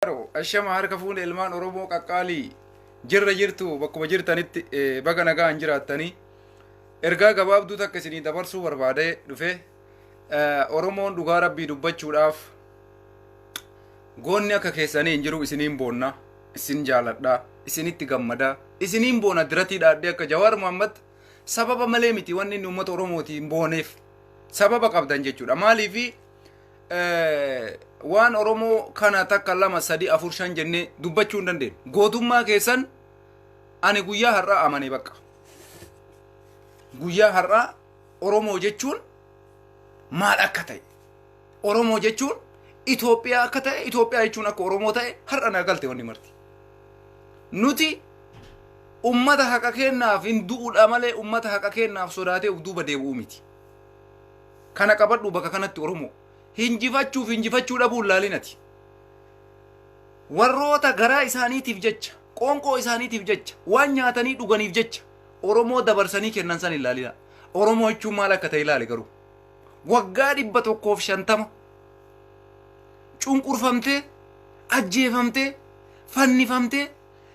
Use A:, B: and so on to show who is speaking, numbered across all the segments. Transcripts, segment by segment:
A: Baaroo, Ashama harka fuune ilmaan Oromoo qaqqaalii jirra jirtu bakkuma jirtanitti eh, baga nagaan jiraattanii ergaa gabaabduu takka isinii dabarsuu barbaadee dhufe Eh, Oromoon dhugaa rabbii dubbachuudhaaf goonni akka keessanii hin jiru isiniin boonna isin jaaladha isinitti gammada isiniin boona diratii dhaadhee akka jawaar muhammad sababa malee miti wanni inni uummata oromootiin booneef sababa qabdan jechuudha maaliifi waan oromoo kana takka lama sadi afur shan jennee dubbachuu hin dandeenyu gootummaa keessan ani guyyaa har'aa amane bakka guyyaa har'aa oromoo jechuun maal akka ta'e oromoo jechuun Itoophiyaa akka ta'e Itoophiyaa jechuun akka oromoo ta'e har'a na galte wanni marti nuti ummata haqa kennaaf hin du'uudha malee ummata haqa kennaaf sodaatee uf duuba deebi'uu miti. Kana qabadhu bakka kanatti Oromoo. Hinjifachuuf hinjifachuu dhabuun laalinati. Warroota garaa isaaniitiif jecha, qoonqoo isaaniitiif jecha, waan nyaatanii dhuganiif jecha Oromoo dabarsanii kennan san hin laalina. Oromoo jechuun maal akka ta'e ilaali garuu. Waggaa dhibba tokkoof shantama cunqurfamtee, ajjeefamtee, fannifamtee,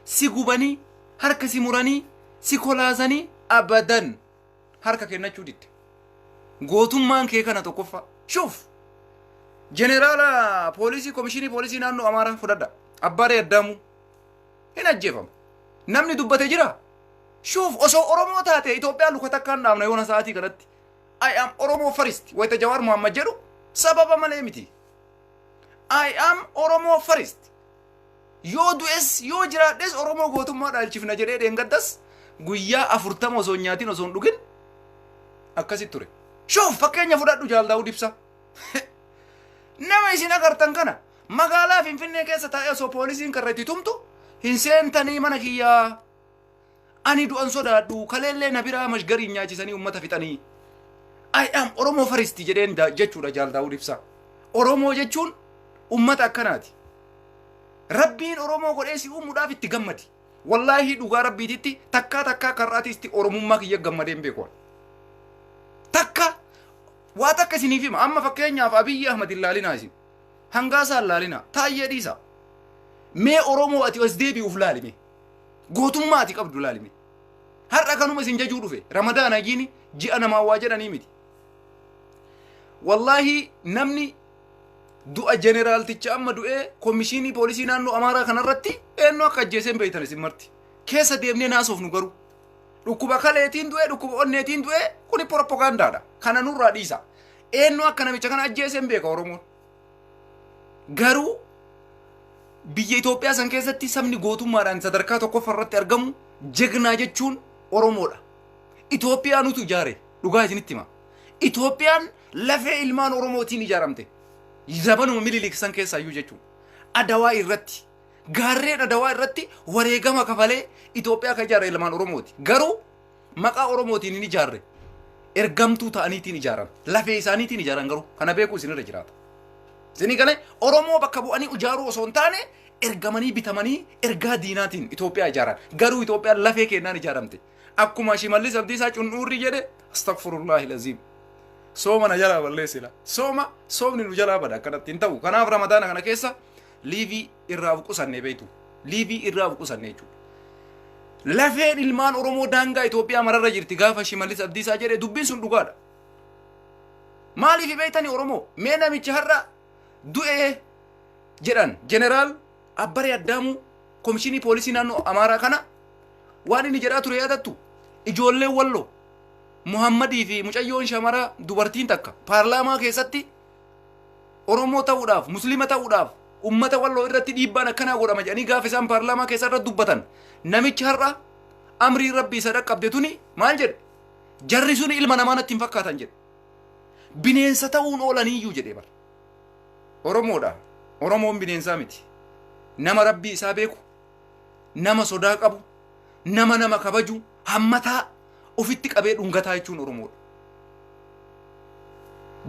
A: si gubanii, harka si muranii, si kolaasanii abadan. harka kennachuu didde. Gootummaan kee kana tokkoffaa. Shuuf! Jeneraala poolisii komishinii poolisii naannoo Amaaraa fudhadha. Abbaaree Addaamuu. Hin ajjeefama. Namni dubbate jira. Shuuf osoo Oromoo taate Itoophiyaa luka takkaan dhaabna yoona sa'aatii kanatti. I am Oromoo first wayita Jawaar Muhammad jedhu sababa malee miti. I am Oromoo first. Yoo du'es yoo jiraadhes Oromoo gootummaa dhaalchifna jedhee dheengaddas guyyaa afurtama osoo hin nyaatin osoo hin dhugin akkasitti ture. Shuuf fakkeenya fudhadhu Jaal Daawud Ibsaa. Nama isin agartan kana magaalaa Finfinnee keessa taa'ee osoo poolisiin karra itti tumtu hin seentanii mana kiyyaa Ani du'an sodaadhu kaleellee na biraa mashgariin nyaachisanii ummata fixanii. I am Oromoo faristi jedheen da- jechuudha Jaal Daawud Ibsaa. Oromoo jechuun ummata akkanaati. Rabbiin Oromoo godhee si uumuudhaaf itti gammadi. Wallaahi dhugaa Rabbiititti takkaa takkaa karraatiisti Oromummaa kiyya gammadee hin beeku. Takka waa takka isiniif hima amma fakkeenyaaf Abiyyi Ahmad hin laalinaa isin. Hangaasaa hin laalinaa. Taayyee dhiisaa. Mee Oromoo ati as deebi'uuf laalime. Gootummaa ati qabdu laalime. Har'a kanuma isin jajuu dhufe. Ramadaan hajiini ji'a namaa waa jedhanii miti. Wallaahi namni du'a jeneraalticha amma du'ee komishinii poolisii naannoo Amaaraa kanarratti eenyu akka ajjeeseen beektan isin marti. Keessa deemnee naasofnu garuu. Dhukkuba kaleetiin du'ee dhukkuba onneetiin du'ee kuni proppagandaadha. Kana nurraa dhiisa. Eenyu akka namicha kana ajjeeseen beeka Oromoon. Garuu biyya Itoophiyaa san keessatti sabni gootummaadhaan sadarkaa tokkoffaa irratti argamu jegnaa jechuun Oromoodha. Itoophiyaantu ijaare dhugaa isinitti hima. Itoophiyaan lafee ilmaan Oromootiin ijaaramte. Zabanuma Minilik san keessaayyuu jechuudha. Adawaa irratti gaarreen adawaa irratti wareegama kafalee Itoophiyaa kan ijaare ilmaan Oromooti. Garuu maqaa Oromootiin hin ijaarre ergamtuu ta'aniitiin ijaaran lafee isaaniitiin ijaaran garuu kana beekuu isinirra jiraata. Isinii galee Oromoo bakka bu'anii ijaaruu osoo hin taane ergamanii bitamanii ergaa diinaatiin Itoophiyaa ijaaran garuu Itoophiyaan lafee kennaan ijaaramte akkuma Shimallis Abdiisaa Cun'uurri jedhe astagfirullaahi laziim. Sooma na jalaa balleessila. Sooma soomni nu jalaa bada akkanatti hin ta'u. Kanaaf ramadaana kana keessa liivii irraa of qusanne beektu. Liivii irraa of qusanne jechuudha. Lafeen ilmaan Oromoo daangaa Itoophiyaa mararra jirti gaafa Shimallis Abdiisaa jedhe dubbiin sun dhugaadha. Maaliif beektani Oromoo? Mee namichi har'a du'ee jedhan jeneraal Abbaree Addaamuu komishinii poolisii naannoo Amaaraa kana waan inni jedhaa ture yaadattu ijoolleen walloo Muhammadii fi mucayyoon shamaraa dubartiin takka paarlaamaa keessatti Oromoo ta'uudhaaf, Musliima ta'uudhaaf ummata walloo irratti dhiibbaan akkanaa godhama jedhanii gaafa isaan paarlaamaa keessa irra dubbatan namichi har'a amriin rabbii isa dhaqqabde tuni maal jedhe jarri suni ilma namaa natti hin fakkaatan jedhe bineensa ta'uun oolaniiyyuu jedhee bara Oromoodha Oromoon bineensaa miti nama rabbii isaa beeku nama sodaa qabu nama nama kabaju hammataa ofitti qabee dhungataa jechuun oromoodha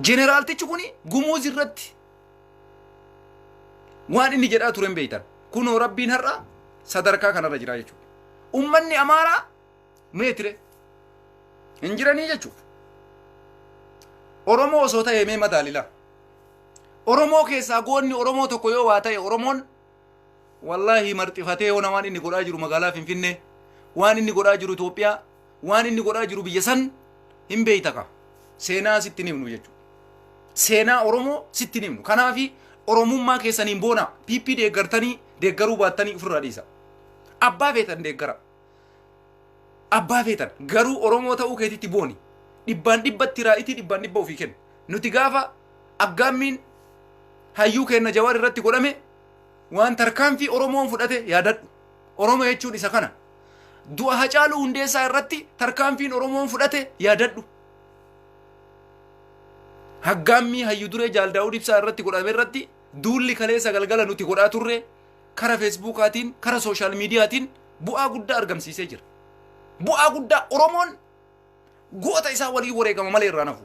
A: jeneraaltichi kun gumuuz irratti waan inni jedhaa ture hin beektan kunoo rabbiin har'a sadarkaa kanarra jira jechuudha ummanni amaaraa meetire hin jiranii jechuudha oromoo osoo ta'e mee madaalila oromoo keessaa goonni oromoo tokko yoo waa ta'e oromoon Wallaahi marxifatee hona waan inni godhaa jiru magaalaa Finfinnee, waan inni godhaa jiru Itoophiyaa, waan inni godhaa jiru biyya san hin beeyta ka. Seenaa sitti hin himnu jechuudha. Seenaa Oromoo sitti hin himnu. Kanaafi Oromummaa keessaniin boonaa PP deeggartanii deeggaruu baattanii ofirraa dhiisa. Abbaa feetan deeggara. Abbaa feetan garuu Oromoo ta'uu keetitti booni. Dhibbaan dhibbatti raa'itii dhibbaan dhibba ofii kenna. Nuti gaafa aggaammiin hayyuu keenna Jawaar irratti godhame waan tarkaanfii Oromoon fudhate yaadadhu. Oromoo jechuun isa kana. Du'a Hacaaluu Hundeessaa irratti tarkaanfiin Oromoon fudhate yaadadhu. Haggaammii hayyu duree Jaal Daawud Ibsaa irratti godhame irratti duulli kaleessa galgala nuti godhaa turre kara feesbuukaatiin kara sooshaal miidiyaatiin bu'aa guddaa argamsiisee jira. Bu'aa guddaa Oromoon goota isaa waliin wareegama malee irraa nafu.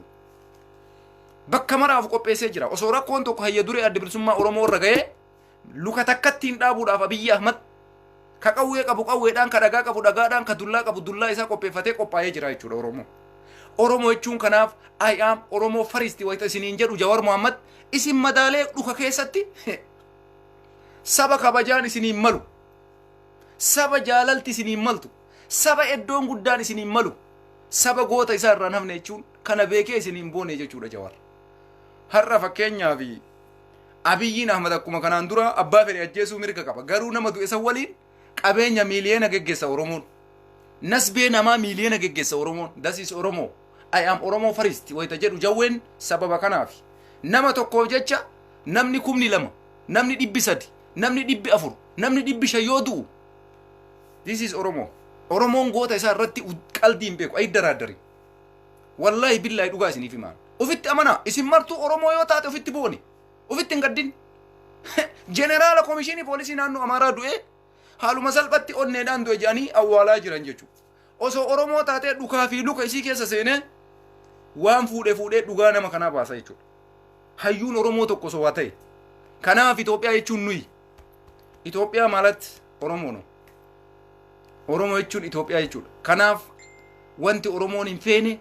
A: Bakka maraaf qopheessee jira. Osoo rakkoon tokko hayya duree adda bilisummaa Oromoo irra ga'ee luka takkatti hin dhaabuudhaaf Abiyyi Ahmad ka qawwee qabu qawweedhaan ka dhagaa qabu dhagaadhaan ka dullaa qabu dullaa isaa qopheeffatee qophaa'ee jira jechuudha Oromoo. Oromoo jechuun kanaaf I am Oromoo faristi wayita isiniin jedhu Jawar Muhammad isin madaalee dhuka keessatti Saba kabajaan isiniin malu. Saba jaalalti isiniin maltu. Saba eddoon guddaan isiniin malu. Saba goota isaa irraan hafne jechuun kana beekee isiniin boone jechuudha Jawaar. Har'a fakkeenyaa fi Abiyyiin Ahmad akkuma kanaan dura abbaa fedhe ajjeesuu mirga qaba. Garuu nama du'e san waliin qabeenya miiliyoona geggeessa oromoon nasbee namaa miiliyoona geggeessa oromoon das is oromoo i am oromoo first wayita jedhu jawween sababa kanaaf nama tokkoof jecha namni kumni lama namni dhibbi sadi namni dhibbi afur namni dhibbi shan yoo du'u this is oromoo oromoon goota isaa irratti qaldii hin beeku ayi daraaddari wallaahi billaahi dhugaa isiniif himaan ofitti amanaa isin martuu oromoo yoo taate ofitti booni Ofitti hin gaddin. Jeneraala komishinii poolisii naannoo Amaaraa du'ee haaluma salphatti onneedhaan du'e jedhanii awwaalaa jiran jechuudha. Osoo Oromoo taatee dhukaa fi luka isii keessa seenee waan fuudhee fuudhee dhugaa nama kanaa baasa jechuudha. Hayyuun Oromoo tokko osoo waa ta'e. Kanaaf Itoophiyaa jechuun nuyi. Itoophiyaa maalatti Oromoo nu. Oromoo jechuun Itoophiyaa jechuudha. Kanaaf wanti Oromoon hin feene,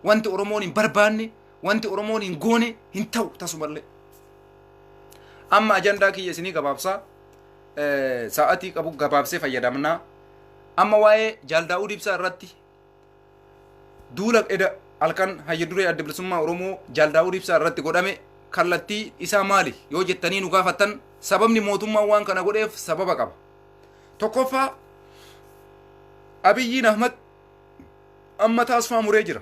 A: wanti Oromoon hin barbaanne, Wanti Oromoon hin goone hin ta'u tasumallee. Amma ajandaa kiyya isinii gabaabsaa eh, sa'atii qabu gabaabsee fayyadamnaa. Amma waa'ee Jaal Daawud Ibsaa irratti duula eda halkan hayya duree adda bilisummaa Oromoo Jaal Daawud Ibsaa irratti godhame kallattii isaa maali yoo jettanii nu gaafattan sababni mootummaan waan kana godheef sababa qaba. Tokkoffaa Abiyyiin Ahmad amma taasifaa muree jira.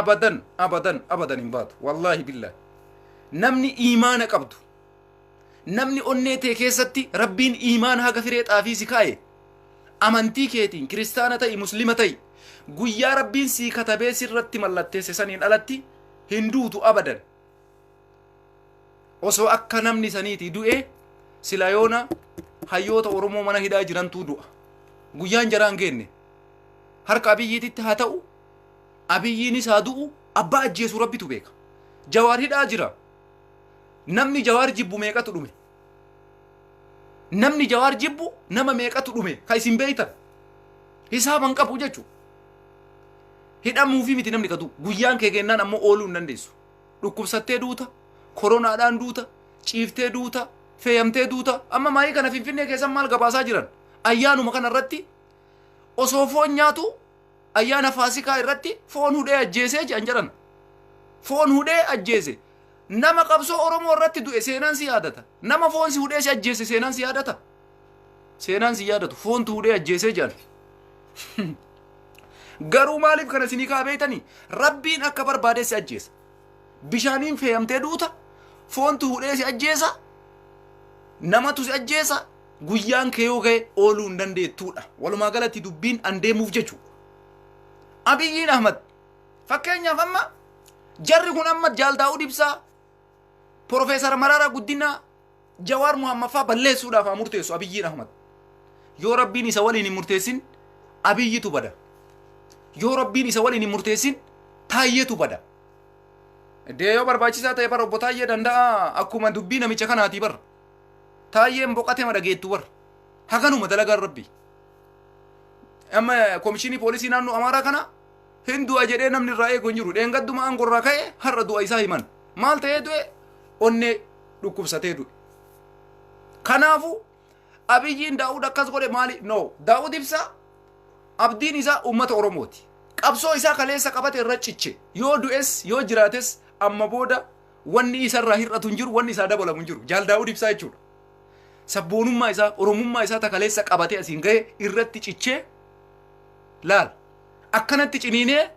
A: abadan abadan abadan hin baatu wallaahi billaahi namni iimaana qabdu namni onnee tee keessatti rabbiin iimaan haga firee xaafii si kaa'e amantii keetiin kiristaana ta'i muslima ta'i guyyaa rabbiin sii katabee sirratti mallatteesse saniin alatti hin duutu abadan osoo akka namni saniiti du'e sila yoona hayyoota oromoo mana hidhaa jirantuu du'a guyyaan jaraan geenne harka abiyyiititti haa ta'u Abiyyiinis haa du'u abbaa ajjeesu rabbitu beeka. Jawaar hidhaa jira. Namni jawaar jibbu meeqatu dhume. Namni jawaar jibbu nama meeqatu dhume ka isin beeytan. Hisaaban qabu jechu. Hidhamuufi miti namni ka du'u. Guyyaan kee geennaan ammoo ooluu hin dandeessu. Dhukkubsattee duuta, koronaadhaan duuta, ciiftee duuta, feeyamtee duuta. Amma maayii kana finfinnee keessan maal gabaasaa jiran? Ayyaanuma kana irratti osoo foon nyaatu ayyaana faasikaa irratti foon hudhee ajjeesee jedhan jedhan foon hudhee ajjeese nama qabsoo oromoo irratti du'e seenaan si yaadata nama foon si hudhee si ajjeese seenaan si yaadata seenaan si yaadatu foontu hudhee ajjeesee jedhan garuu maaliif kana isinii kaa beeytanii rabbiin akka barbaadee si ajjeesa bishaaniin feeyamtee duuta foontu hudhee si ajjeesa namatu si ajjeesa Guyyaan kee yoo ga'e ooluu hin dandeettuudha. Walumaa galatti dubbiin an deemuuf jechuudha. Abiyyiin Ahmad fakkeenyaaf amma jarri kun amma Jaal Daawud Ibsaa, Profeesar Mararaa Guddinaa, Jawaar Muhammaffaa balleessuudhaaf haa murteessu Abiyyiin Ahmad. Yoo rabbiin isa waliin hin murteessin Abiyyitu bada. Yoo rabbiin isa waliin hin murteessin Taayyeetu bada. Dee yoo barbaachisaa ta'e bara obbo Taayyee danda'a akkuma dubbii namicha kanaatii bara. Taayyeen boqatema dhageettu bar. Haganuma dalagaan rabbi. Amma komishinii poolisii naannoo Amaaraa kana hin du'a jedhee namni irraa eegu hin jiru. Dheengadduma aangoo irraa ka'e har'a du'a isaa himan. Maal ta'ee du'e? Onnee dhukkubsatee du'e. Kanaafu Abiyyiin Daawud akkas godhe maali? No. Daawud ibsa abdiin isaa uummata Oromooti. Qabsoo isaa kaleessa qabate irra ciche. Yoo du'es yoo jiraates amma booda Wanni isa irraa hir'atu hin jiru, wanni isaa dabalamu hin jiru. Jaal Daawud Ibsaa jechuudha. Sabboonummaa isaa, Oromummaa isaa takaleessa qabatee asiin ga'e irratti cichee laal. Akkanatti ciniinee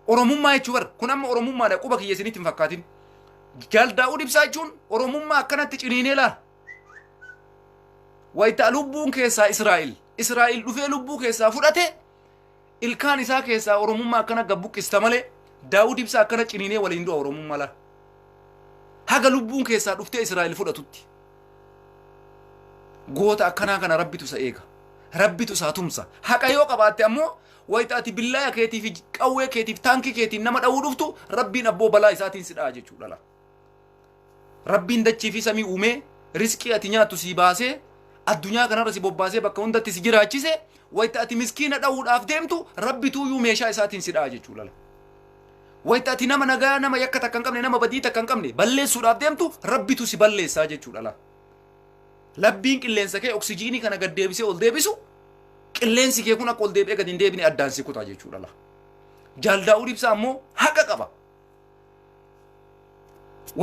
A: Oromummaa jechuu bara. Kun amma Oromummaadha quba kiyya isinitti hin fakkaatin. Jaal Daawud Ibsaa jechuun Oromummaa akkanatti ciniinee laal. Wayita lubbuun keessaa Israa'el, Israa'el dhufee lubbuu keessaa fudhate Ilkaan isaa keessaa Oromummaa akkana gabbuqqista malee Daawud Ibsaa akkana ciniinee waliin du'a Oromummaa laal. Haga lubbuun keessaa dhuftee Israa'el fudhatutti. Goota akkanaa kana rabbitu isa eega. Rabbitu isaa tumsa. Haqa yoo qabaatte ammoo wayita ati billaaya keetiif qawwee keetiif taankii keetiin nama dha'uu dhuftu rabbiin abboo balaa isaatiin si dha'a jechuudha. Rabbiin dachii fi samii uumee risqii ati nyaattu sii baasee addunyaa kanarra si bobbaasee bakka hundatti si jiraachise wayita ati miskiina dha'uudhaaf deemtu rabbi tuuyuu meeshaa isaatiin si dha'a jechuu lala. Wayita ati nama nagaa nama yakka takka hin qabne nama badii takka hin qabne balleessuudhaaf deemtu rabbitu si balleessaa jechuudha lala. Labbiin qilleensa kee oksijiinii kana gad deebisee ol deebisu qilleensi kee kun akka ol deebi'ee gad hin deebine addaan si kutaa jechuudha lala. Jaal Daawud Ibsaa ammoo haqa qaba.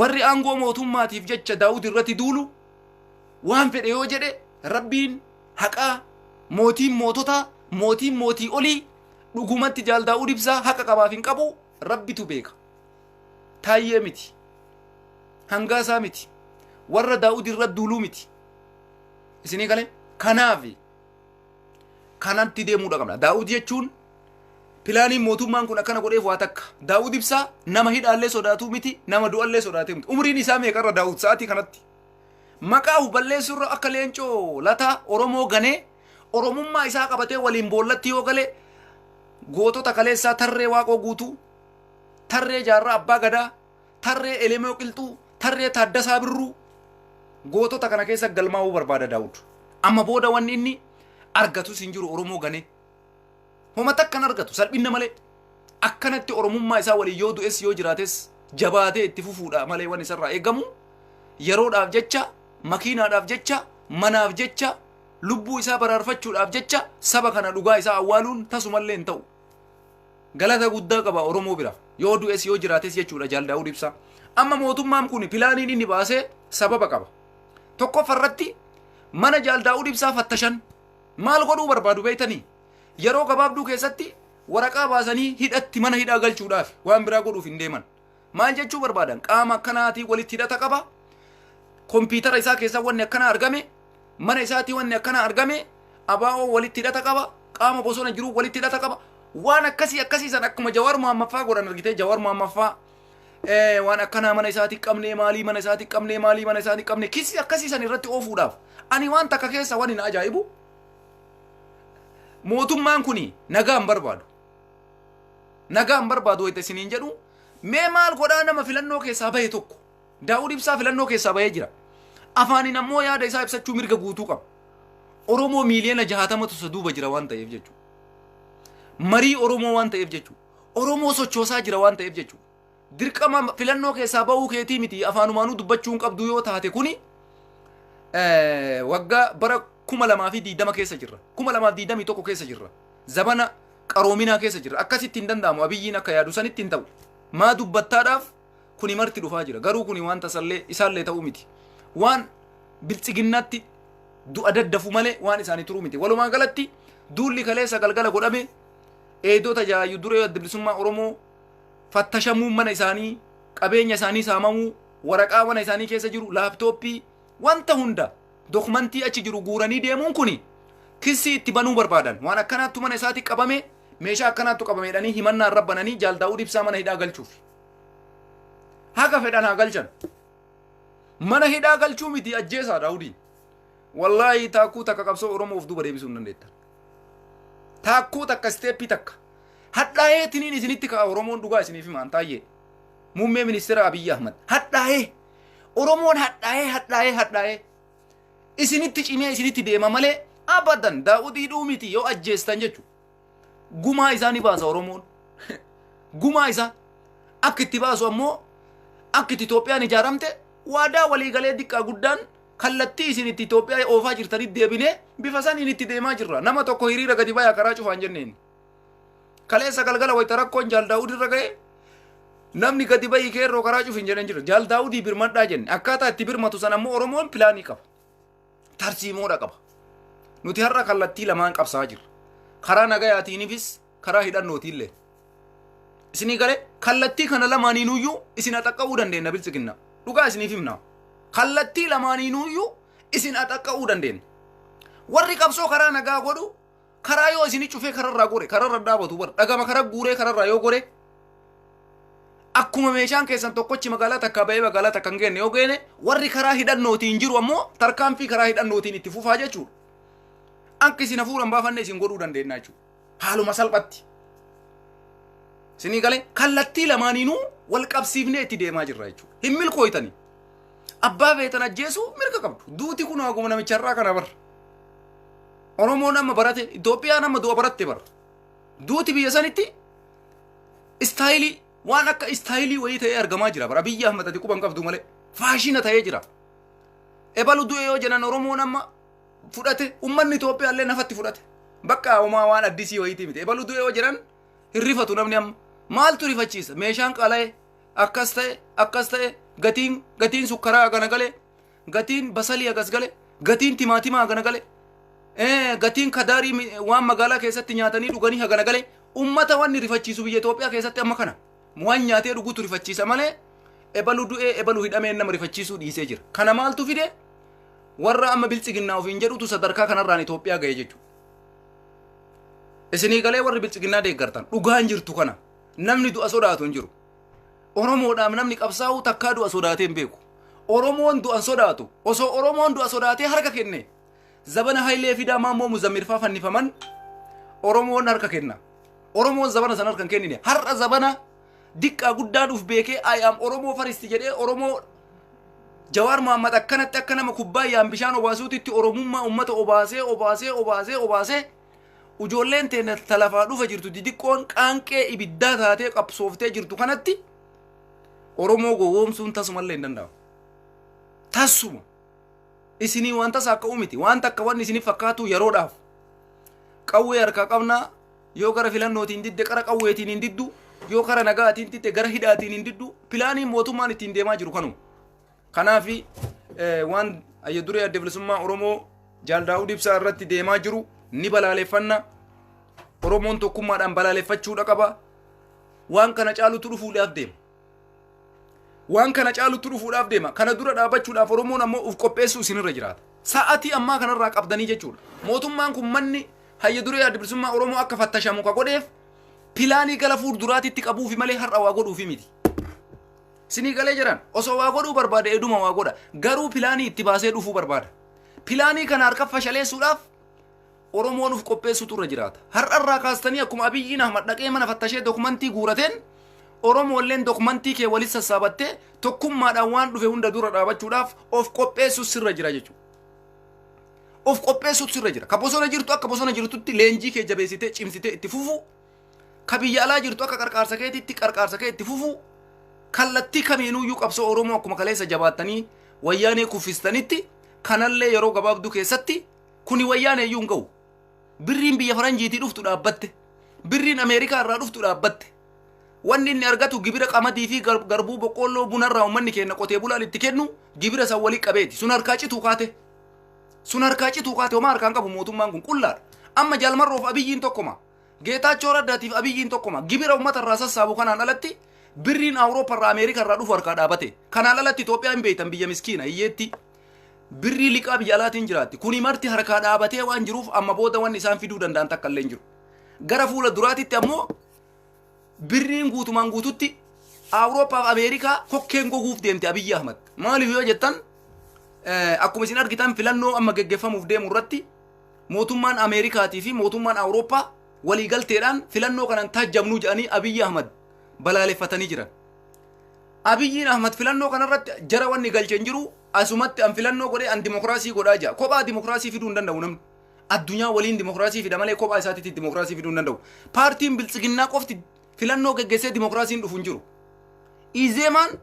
A: warri aangoo mootummaatiif jecha daawud irratti duulu waan fedhe yoo jedhe rabbiin haqaa mootiin moototaa mootiin mootii olii dhugumatti jaal daawud ibsaa haqa qabaaf hin qabu rabbitu beeka taayyee miti hangaasaa miti warra daawud irra duuluu miti isinii galee kanaafi kanatti deemuudha qabna. Daawud jechuun pilaaniin mootummaan kun akkana godheef waa takka. Daawud ibsaa nama hidhaallee sodaatu miti, nama du'allee sodaate miti. Umriin isaa meeqarra Daawud sa'aatii kanatti? Maqaa of balleessuurra akka leencoo lataa Oromoo ganee Oromummaa isaa qabatee waliin boollatti yoo gale gootota kaleessaa tarree waaqoo guutuu tarree jaarraa abbaa gadaa Tarree Elemoo Qilxuu, tarree Taaddasaa Birruu gootota kana keessa galmaa'uu barbaada Daawud. Amma booda wanni inni argatus hin jiru Oromoo ganee. Homa takka hin argatu salphinna malee. Akkanatti Oromummaa isaa waliin yoo du'es yoo jiraates jabaatee itti fufuudha malee waan isarraa eegamu yeroodhaaf jecha, makiinaadhaaf jecha, manaaf jecha, lubbuu isaa baraarfachuudhaaf jecha saba kana dhugaa isaa awwaaluun tasumallee hin ta'u. Galata guddaa qaba Oromoo bira. Yoo du'es yoo jiraates jechuudha Jaal Daawud Ibsaa. Amma mootummaan kun pilaaniin inni baasee sababa qaba. Tokkoffaa irratti mana Jaal Daawud Ibsaa fattashan maal godhuu barbaadu beektanii? Yeroo gabaabduu keessatti waraqaa baasanii hidhatti mana hidhaa galchuudhaaf waan biraa godhuuf hin deeman. Maal jechuu barbaadan? Qaama akkanaatiin walitti hidhata qaba. Kompiitara isaa keessaa wanni akkanaa argame, mana isaatii wanni akkanaa argame, abaa'oo walitti hidhata qaba, qaama bosona jiruu walitti hidhata qaba. Waan akkasii akkasii san akkuma Jawaar Muhammaffaa godhan argitee Jawaar Muhammaffaa eh, waan akkanaa mana isaatii qabnee maalii mana isaatii qabnee maalii mana isaatii qabnee kisii akkasii san irratti oofuudhaaf. Ani waan takka keessa waan hin ajaa'ibu mootummaan kuni nagaa hin barbaadu. nagaa hin barbaadu wayita isiniin jedhu mee maal godhaa nama filannoo keessaa bahe tokko daawud ibsaa filannoo keessaa bahee jira afaaniin ammoo yaada isaa ibsachuu mirga guutuu qaba oromoo miiliyoona jahaatamatu isa duuba jira waan ta'eef jechuudha marii oromoo waan ta'eef jechuudha oromoo sochoosaa jira waan ta'eef jechuudha dirqama filannoo keessaa ba'uu keetii miti afaanumaanuu dubbachuu hin qabdu yoo taate kuni eh, waggaa bara kuma lamaa fi diidama keessa jirra kuma lamaa fi diidamii tokko keessa jirra zabana qaroominaa keessa jirra akkasitti hin danda'amu abiyyiin akka yaadu sanitti hin ta'u maa dubbattaadhaaf kuni marti dhufaa jira garuu kuni waan tasallee isaallee ta'uu miti waan biltsiginnaatti du'a daddafu malee waan isaanii turuu miti walumaa galatti duulli kaleessa galgala godhame eedota jaayyu duree adda bilisummaa oromoo fattashamuun mana isaanii, qabeenya isaanii saamamuu, waraqaa mana isaanii keessa jiru, laaptooppii, wanta hunda dokumentii achi jiru guuranii deemuun kuni kissii itti banuu barbaadan. Waan akkanaattu mana isaati qabame, meeshaa akkanaattu qabame jedhanii himannaa irra bananii Jaal Daawud Ibsaa mana hidhaa galchuuf. Haga fedhan haa galchan. Mana hidhaa galchuu miti ajjeesaa Daawudiin. Wallaahi taakkuu takka qabsoo Oromoo of duuba deebisuu hin dandeettan. taakkuu takka isteeppii takka hadhaa'ee tiniin isinitti ka'a oromoon dhugaa isiniif himaan taayyee muummee ministeera abiyyi ahmad hadhaa'ee oromoon hadhaa'ee hadhaa'ee hadhaa'ee isinitti cimee isinitti deema malee abadan daa'udii dhuumiti yoo ajjeestan jechu gumaa isaa ni baasa oromoon gumaa isaa akka itti baasu ammoo akka itti Itoophiyaan ijaaramte waadaa waliigalee diqqaa guddaan Kallattii isin itti Itoophiyaa oofaa jirtanitti deebinee bifa saniin itti deemaa jirra. Nama tokko hiriira gadi bayaa karaa cufaan jenneen. Kaleessa galgala wayita rakkoon Jaal Daawud irra ga'e namni gadi bayii keerroo karaa cufin jedhan jira. Jaal Daawudii birmadhaa jenne. Akkaataa itti birmatu sana immoo Oromoon pilaanii qaba. Tarsiimoodha qaba. Nuti har'a kallattii lamaan qabsaa jirra. Karaa nagayaatiinifis karaa hidhannootiillee isinii galee kallattii kana lamaaniinuyyuu isin axaqqa'uu dandeenya biltsiginna dhugaa isiniif himna kallattii lamaaniinuyyuu isin axaqqa'uu dandeenya warri qabsoo karaa nagaa godhu karaa yoo isin cufee kararraa gore kararra dhaabatu bar dhagama karaa guuree kararraa yoo gore akkuma meeshaan keessan tokkochi magaalaa takkaa ba'ee magaalaa takka hin geenne yoo geene warri karaa hidhannootiin jiru ammoo tarkaanfii karaa hidhannootiin itti fufaa jechuudha akka isin hafuura hin baafanne isin godhuu dandeenya jechuudha haaluma salphatti sinii galee kallattii lamaaniinuu wal qabsiifnee itti deemaa jirra jechuudha hin milkooytanii abbaa feetan ajjeesuu mirga qabdu duuti kun haguma namicha irraa kana barra oromoon amma barate itoophiyaan amma du'a baratte barra duuti biyya sanitti istaayilii waan akka istaayilii wayii ta'ee argamaa jira bara biyya ahmad ati quban qabdu malee faashina ta'ee jira ebalu du'e yoo jedhan oromoon amma fudhate ummanni Itoophiyaa illee nafatti fudhate. Bakka homaa waan addisii wayiitii miti. Ebalu du'ee yoo jiran hin rifatu namni amma. Maaltu rifachiisa? Meeshaan qala'e akkas ta'e akkas ta'e gatiin gatiin sukkaraa hagana gale gatiin basalii hagas gale gatiin timaatimaa hagana gale eh, gatiin kadaarii mi- waan magaalaa keessatti nyaatanii dhuganii hagana gale ummata wanni rifachiisu biyya Itoophiyaa keessatti amma kana waan nyaatee dhugutu rifachiisa malee ebalu du'ee ebalu hidhamee nama rifachiisuu dhiisee jira. Kana maaltu fide? Warra amma biltsiginnaa ofiin jedhutu sadarkaa kanarraan Itoophiyaa ga'e jechuudha. Isinii galee warri biltsiginnaa deeggartan dhugaan jirtu kana namni du'a sodaatu hin jiru. Oromoodhaaf namni qabsaa'u takkaa du'a sodaatee hin beeku. Oromoon du'an sodaatu osoo Oromoon du'a sodaatee harka kenne zabana Hayilee Fidaa Maammoo Muzammirfaa fannifaman Oromoon harka kenna. Oromoon zabana sana harka hin kennine har'a zabana diqqaa guddaan uf beekee I am Oromoo faristi jedhee Oromoo Jawaar Mohaammed akkanatti akka nama kubbaayyaan bishaan obaasuutitti Oromummaa uummata obaasee obaasee obaasee obaasee ujoolleen teenya talafaa dhufa jirtu didiqqoon qaanqee ibiddaa taatee qabsooftee jirtu kanatti Oromoo gowwoomsuun tasumallee hin danda'amu. Tasuma isinii waan tasa akka uumiti waan takka waan isiniif fakkaatu yeroodhaaf qawwee harkaa qabnaa Yoo kara filannootiin didde kara qawweetiin hin diddu. Yoo kara nagaatiin didde gara hidhaatiin hin diddu. Pilaaniin mootummaan ittiin deemaa jiru kanuma. Kanaaf waan ayya duree adda bilisummaa Oromoo Jaal Daawud Ibsaa irratti deemaa jiru ni balaaleffanna. Oromoon tokkummaadhaan balaaleffachuudha qaba. Waan kana caalutu dhufuudhaaf deema. Waan kana caalutti dhufuudhaaf deema. Kana dura dhaabbachuudhaaf Oromoon ammoo uf qopheessuu isinirra jiraata. Sa'atii ammaa kanarraa qabdanii jechuudha. Mootummaan kun manni hayya duree adda bilisummaa Oromoo akka fattashamu ka godheef pilaanii gara fuulduraatitti qabuufi malee har'a waa godhuufi miti. Sinii galee jiran osoo waa godhuu barbaade eduma waa godha. Garuu pilaanii itti baasee dhufuu barbaada. Pilaanii kana harka fashaleessuudhaaf Oromoo nuuf qopheessuutu irra jiraata. Har'a irraa kaastanii akkuma Abiyyiin Ahmad dhaqee mana fattashee dokumantii guurateen Oromoolleen dokumantii kee walitti sassaabattee tokkummaadhaan waan dhufe hunda dura dhaabachuudhaaf of qopheessuus sirra jira jechuudha. Of qopheessuutu sirra jira. Ka bosona jirtu akka bosona jirtutti leenjii kee jabeessitee cimsitee itti fufuu. Ka biyya alaa jirtu akka qarqaarsa keetiitti qarqaarsa kee itti fufuu. Kallattii kamiinuyyuu qabsoo Oromoo akkuma kaleessa jabaattanii wayyaanee kuffistanitti kanallee yeroo gabaabduu keessatti Kuni wayyaanee iyyuu hin ga'u. Birriin biyya faranjiitii dhuftu dhaabbatte. Birriin Ameerikaa irraa dhuftu dhaabbatte. Wanni inni argatu gibira qamadii fi gar- garbuu boqqoolloo bunarraa uummanni keenya qotee bulaan itti kennu gibira san walii qabeeti. Sun harkaa cituu kaate. Sun harkaa cituu kaate homaa harkaan qabu mootummaan kun qullaadha. Amma jaalmarroof abiyyiin tokkuma. Geetaachoo Raddaatiif abiyyiin tokkuma. Gibira uummata irraa sassaabu kanaan alatti birriin Awurooppaa irraa Ameerikaa irraa dhufu harkaa dhaabate. Kanaan alatti Itoophiyaa hin beektan biyya miskiina hiyyeetti. Birrii liqaa biyya alaatiin jiraatti. Kuni marti harkaa dhaabatee waan jiruuf amma booda waan isaan fiduu danda'an takka illee hin jiru. Gara fuula duraatitti ammoo birriin guutumaan guututti Awurooppaa fi Ameerikaa kokkeen goguuf deemte Abiyyi Ahmad. Maaliif yoo jettan eh, akkuma isin argitan filannoo amma geggeeffamuuf deemu irratti mootummaan Ameerikaatii fi mootummaan Awurooppaa waliigalteedhaan filannoo kanan taajjabnuu jedhanii Abiyyi Ahmad balaaleffatanii jiran. Abiyyiin Ahmad filannoo kanarratti jara wanni galche hin jiru asumatti an filannoo godhee an dimokiraasii godhaa jira. Kophaa dimokiraasii fiduu hin danda'u namni. Addunyaa waliin dimokiraasii fida malee kophaa isaatiitti dimokiraasii fiduu hin danda'u. Paartiin biltsiginnaa qofti filannoo geggeessee dimokiraasiin dhufu hin jiru. Izeemaan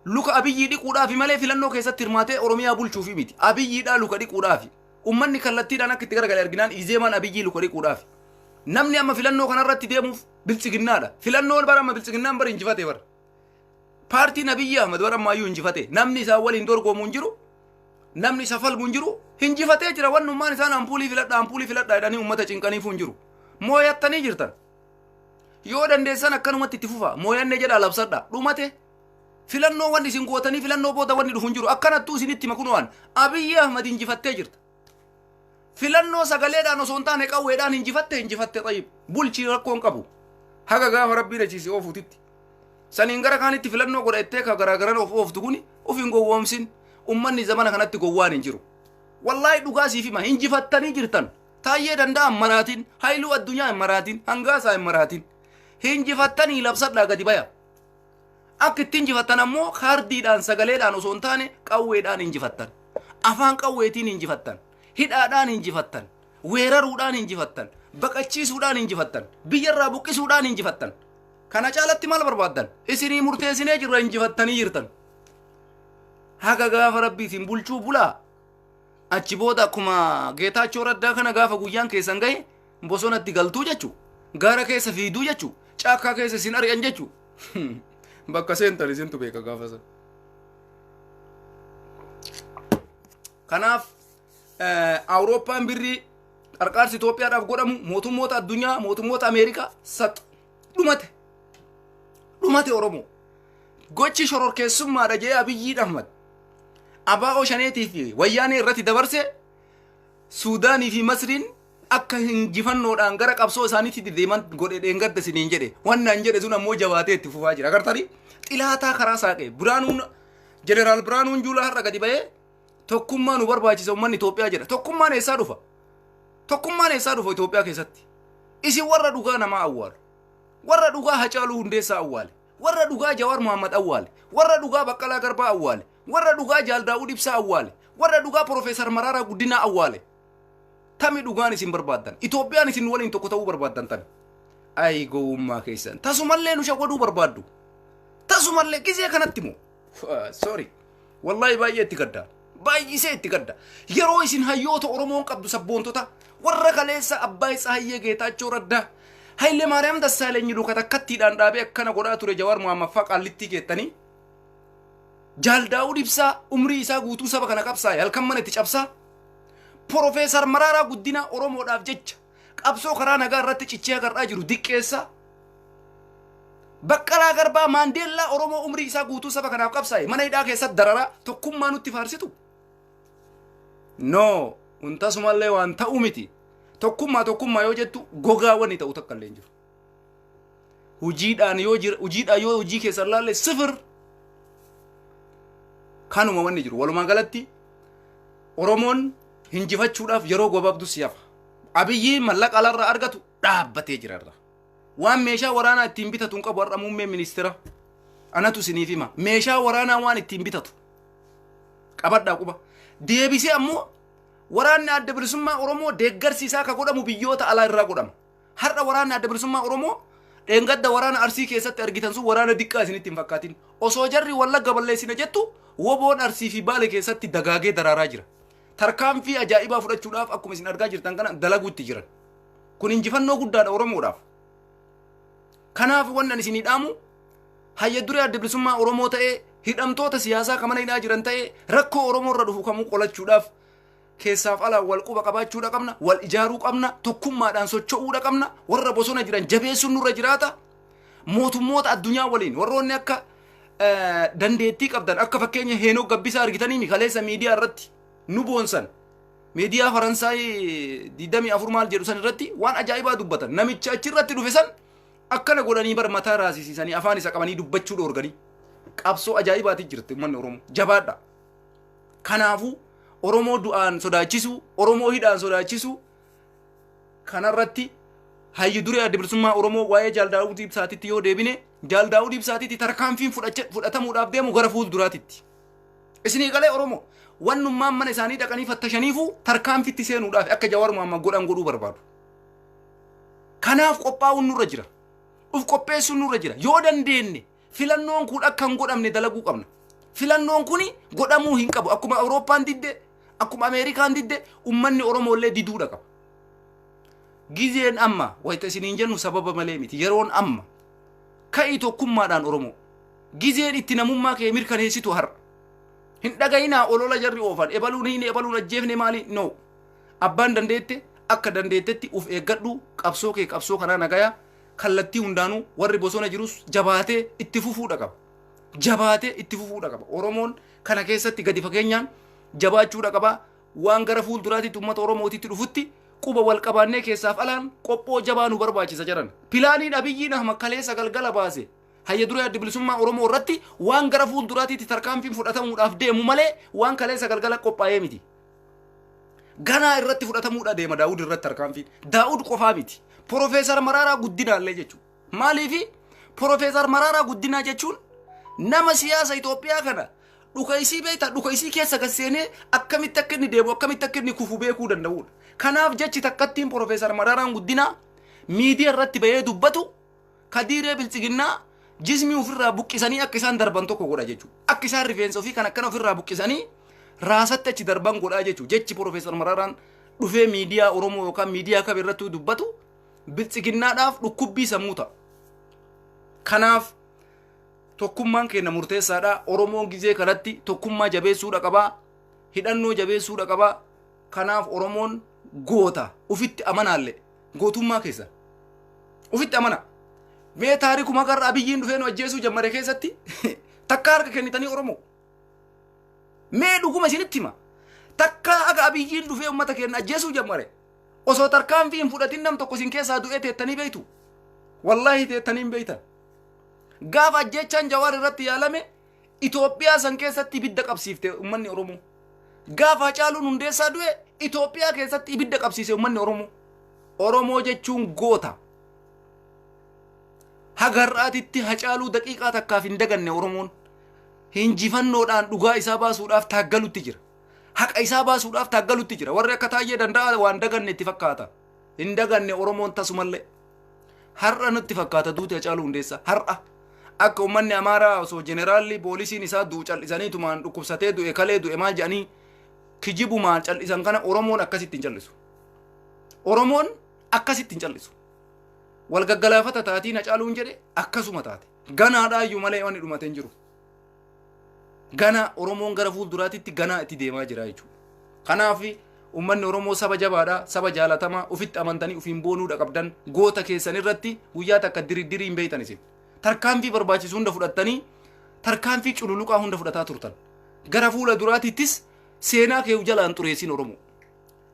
A: luka abiyyii dhiquudhaafi malee filannoo keessatti hirmaatee Oromiyaa bulchuufi miti. Abiyyiidhaa luka dhiquudhaafi. Ummanni kallattiidhaan akka itti garagale arginaan Izeemaan abiyyii luka dhiquudhaafi. Namni amma filannoo kanarratti deemuuf biltsiginnaadha filannoon bara amma biltsiginnaan bara injifate bara paartiin abiyyi ahmad bara ammaayyuu injifate namni isaa waliin dorgomu hin jiru namni isa falmu hin jiru injifatee jira wannummaan isaan ampuulii filadha ampuulii filadha jedhanii uummata cinqaniifuu hin jiru mooyattanii jirtan yoo dandeessan akkanumatti itti fufa mooyanne jedha labsadha dhumate filannoo wanni isin gootanii filannoo booda wanni dhufu hin jiru akkanattuu isinitti makunuwaan abiyyi ahmad injifattee jirta filannoo sagaleedhaan osoo hin taane qawweedhaan injifatte injifatte xayyib bulchii rakkoon qabu haga gaafa rabbiin achiisi oofutitti saniin gara kaanitti filannoo godha ettee ka garaagaran of ooftu kuni of hin gowwoomsin ummanni zamana kanatti gowwaan hin jiru wallaahi dhugaa siif hima injifattanii jirtan taayyee danda'a hin maraatin hayluu addunyaa hin maraatin hangaasaa hin maraatin injifattanii labsadhaa gadi baya Akka itti injifattan ammoo kaardiidhaan sagaleedhaan osoo hin taane qawweedhaan injifattan. Afaan qawweetiin injifattan. Hidhaadhaan injifattan. Weeraruudhaan injifattan. Baqachiisuudhaan injifattan. Biyyarraa buqqisuudhaan injifattan. Kana caalatti maal barbaaddan? Isinii murteessinee jirra injifattanii jirtan. Haga gaafa rabbi isin bulchuu bulaa. achi booda akkuma geetaachoo raddaa kana gaafa guyyaan keessan gahe bosonatti galtuu jechuu gaara keessa fiigduu jechuu caakkaa keessa isin ari'an jechuu bakka seentan isintu beeka gaafa sana. Kanaaf eh, Awurooppaan birrii qarqaarsi Itoophiyaadhaaf godhamu mootummoota addunyaa mootummoota Ameerikaa sax dhumate dhumate oromoo gochi shororkeessummaadha jee abiyyii ahmad abbaa oshaneetii fi wayyaanee irratti dabarse suudaanii fi masriin akka injifannoodhaan gara qabsoo isaaniitti deeman godhe dheengadda isiniin jedhe wannaan jedhe sun ammoo jabaatee itti fufaa jira agartanii xilaataa karaa saaqe biraanuun jeneraal biraanuun juulaa har'a gadi ba'ee Tokkummaa nu barbaachisa uummanni Itoophiyaa jedha. Tokkummaan eessaa dhufa? Tokkummaan eessaa dhufa Itoophiyaa keessatti? Isin warra dhugaa namaa awwaalu. Warra dhugaa Hacaaluu Hundeessaa awwaale. Warra dhugaa Jawaar Mohaammed awwaale. Warra dhugaa Baqqalaa Garbaa awwaale. Warra dhugaa Jaal Daawud Ibsaa awwaale. Warra dhugaa Profeesar Maraaraa Guddinaa awwaale. Tami dhugaan isin barbaaddan. Itoophiyaan isin waliin tokko ta'uu barbaaddan tami. Ayi gowwummaa keessan. Tasumallee nu shawaduu barbaaddu. Tasumallee gizee kanatti moo? sorry wallahi baay'ee itti gadda baay'isee itti gadda yeroo isin hayyoota oromoon qabdu sabboontota warra kaleessa abbaa isaa hayyee geetaachoo raddaa hayilee maariyaam dassaalenyi luka takkattiidhaan dhaabee akkana godhaa ture jawaar muhammaffaa qaallittii keettanii jaal daawud ibsaa umrii isaa guutuu saba kana qabsaa'e halkan mana itti cabsaa porofeesar maraaraa guddinaa oromoodhaaf jecha qabsoo karaa nagaa irratti cichee agarraa jiru diqqeessaa baqqalaa garbaa maandeellaa oromoo umrii isaa guutuu saba kanaaf qabsaa'e mana hidhaa keessatti dararaa tokkummaa nutti faarsitu no kun tasumallee waan ta'u miti tokkummaa tokkummaa yoo jettu gogaa wanni ta'u takka illee hin jiru Hujiidhaan yoo jira hujiidhaan yoo hojii keessan laalle sifir kanuma wanni jiru walumaa galatti Oromoon hinjifachuudhaaf yeroo gabaabduu si hafa. Abiyyi mallaqa alarraa argatu dhaabbatee jira irra. Waan meeshaa waraanaa ittiin bitatu hin qabu har'a muummee ministeera. Anatu isiniif hima. Meeshaa waraanaa waan ittiin bitatu. Qabadhaa quba. Deebisee ammoo waraanni adda bilisummaa Oromoo deeggarsi isaa akka godhamu biyyoota alaa irraa godhama. Har'a waraanni adda bilisummaa Oromoo dheengadda waraana Arsii keessatti argitan sun waraana diqqaa isinitti hin fakkaatin. Osoo jarri wallagga balleessina jettu woboon Arsii fi Baale keessatti dagaagee daraaraa jira. Tarkaanfii ajaa'ibaa fudhachuudhaaf akkuma isin argaa jirtan kana dalaguutti jiran. Kun injifannoo guddaadha Oromoodhaaf. Kanaaf wanni ani isinii dhaamu hayya duree adda bilisummaa Oromoo ta'ee hidhamtoota siyaasaa kan mana hidhaa jiran ta'ee rakkoo Oromoo irra dhufu kamuu qolachuudhaaf Keessaaf alaan wal quba qabaachuudha qabna, wal ijaaruu qabna, tokkummaadhaan socho'uudha qabna, warra bosona jiran jabeessuun nurra jiraata. Mootummoota addunyaa waliin warroonni akka eh, dandeettii qabdan akka fakkeenya Heenok Gabbisaa argitanii mi kaleessa miidiyaa irratti nu boonsan. Miidiyaa Faransaay 24 maal jedhu san irratti waan ajaa'ibaa dubbatan. Namicha achi irratti dhufe san akkana godhanii bar mataa raasisiisanii afaan isa qabanii dubbachuu dhoorganii. Qabsoo ajaa'ibaati jirti uummanni Oromoo. Jabaadha. Kanaafuu Oromoo du'aan sodaachisuu, Oromoo hidhaan sodaachisuu kanarratti hayyu duree adda bilisummaa Oromoo waa'ee Jaal Daawud Ibsaatitti yoo deebine Jaal Daawud Ibsaatitti tarkaanfiin fudhacha- fudhatamuudhaaf deemu gara fuulduraatitti. Isinii galee Oromoo wannummaan mana isaanii dhaqanii fattashaniifuu tarkaanfitti seenuudhaaf akka Jawaar Mohaammed godhan godhuu barbaadu. Kanaaf qophaa'uun nurra jira. Uf qopheessuun nurra jira. Yoo dandeenye Filannoon kun akka hin godhamne dalaguu qabna. Filannoon kun godhamuu hin qabu. Akkuma Awurooppaan didde, akkuma Ameerikaan didde, ummanni Oromoo illee diduudha qaba. Gizeen amma wayita isiniin jennu sababa malee miti. Yeroon amma. Ka'ii tokkummaadhaan Oromoo. Gizeen itti namummaa kee mirkaneessitu har'a. Hin dhaga'inaa olola jarri oofan. Ebaluun hin ebaluun ajjeefne maali? No. Abbaan dandeette akka dandeettetti uf eeggadhu qabsoo kee qabsoo kanaa nagayaa kallattii hundaanuu warri bosona jirus jabaatee itti fufuudha qaba. Jabaatee itti fufuudha qaba. Oromoon kana keessatti gadi fageenyaan jabaachuudha qaba. Waan gara fuulduraatitti uummata Oromootitti dhufutti quba wal qabaannee keessaaf alaan qophoo jabaa nu barbaachisa jedhan. Pilaaniin Abiyyiin Ahmad kaleessa galgala baase hayya duree adda bilisummaa Oromoo irratti waan gara fuulduraatitti tarkaanfiin fudhatamuudhaaf deemu malee waan kaleessa galgala qophaa'ee miti. Ganaa irratti fudhatamuudha deema Daawud irratti tarkaanfiin. Daawud qofaa miti. Profeesar Maraaraa Guddinaallee jechuudha. Maaliifi Profeesar Maraaraa Guddinaa jechuun nama siyaasa Itoophiyaa kana dhuka isii beekta dhuka isii keessa gad seenee akkamitti akka inni deemu akkamitti akka inni kufu beekuu danda'udha. Kanaaf jechi takkattiin Profeesar Maraaraan Guddinaa miidiyaa irratti bahee dubbatu kadiiree biltsiginnaa jismii ofirraa buqqisanii akka isaan darban tokko godha jechuudha. Akka isaan rifeensa ofii kan akkana ofirraa buqqisanii raasatti achi darban godhaa jechuudha. Jechi Piroofeesar Mararaan dhufee miidiyaa Oromoo yookaan miidiyaa kam irratti dubbatu biltsiginnaadhaaf dhukkubbii sammuu ta'a. Kanaaf tokkummaan keenya murteessaadha. Oromoon gizee kanatti tokkummaa jabeessuudha qabaa. Hidhannoo jabeessuudha qabaa. Kanaaf Oromoon goota ufitti amanaalle Gootummaa keessan. Ufitti amana. Mee taariku makarra abiyyiin dhufee nu ajjeesuu jammare keessatti takka harka kennitanii Oromoo. Mee dhuguma isinitti hima. Takka akka abiyyiin dhufee uummata keenya ajjeesuu jammare. Osoo tarkaanfii hin fudhatin nam tokko isin keessaa du'ee teettanii beektu. Wallaahi teettanii hin beektan. Gaafa ajjeechaan jawaar irratti yaalame Itoophiyaa san keessatti ibidda qabsiifte ummanni Oromoo. Gaafa Hacaaluun Hundeessaa du'e Itoophiyaa keessatti ibidda qabsiise ummanni Oromoo. Oromoo jechuun goota. Haga har'aatitti Hacaaluu daqiiqaa takkaaf hin daganne Oromoon. Hinjifannoodhaan dhugaa isaa baasuudhaaf taaggalutti jira. Haqa isaa baasuudhaaf taaggalutti jira. Warri akka taayyee danda'a waan daganne itti fakkaata. Hin daganne Oromoon tasumallee. Har'a nutti fakkaata duuti Hacaaluu Hundeessaa. Har'a akka uummanni Amaaraa osoo jeneraalli poolisiin isaa du'u cal'isanii tumaan dhukkubsatee du'e kalee du'e maal jedhanii kijibumaan cal'isan kana Oromoon akkasitti hin cal'isu. Oromoon akkasitti hin cal'isu. Wal gaggalaafata taatiin Hacaaluun jedhe akkasuma taate. Ganaadhaayyuu malee wanni dhumate hin jiru. Ganaa Oromoon gara fuulduraatitti ganaa itti deemaa jira jechuudha. Kanaaf uummanni Oromoo saba jabaadha, saba jaalatamaa, ofitti amantanii ofiin boonuudha qabdan goota keessan irratti guyyaa takka diriddirii hin beektan isin. Tarkaanfii barbaachisu hunda fudhattanii tarkaanfii cululuqaa hunda fudhataa turtan. Gara fuula duraatiittis seenaa keeyu jalaan xureessin Oromoo.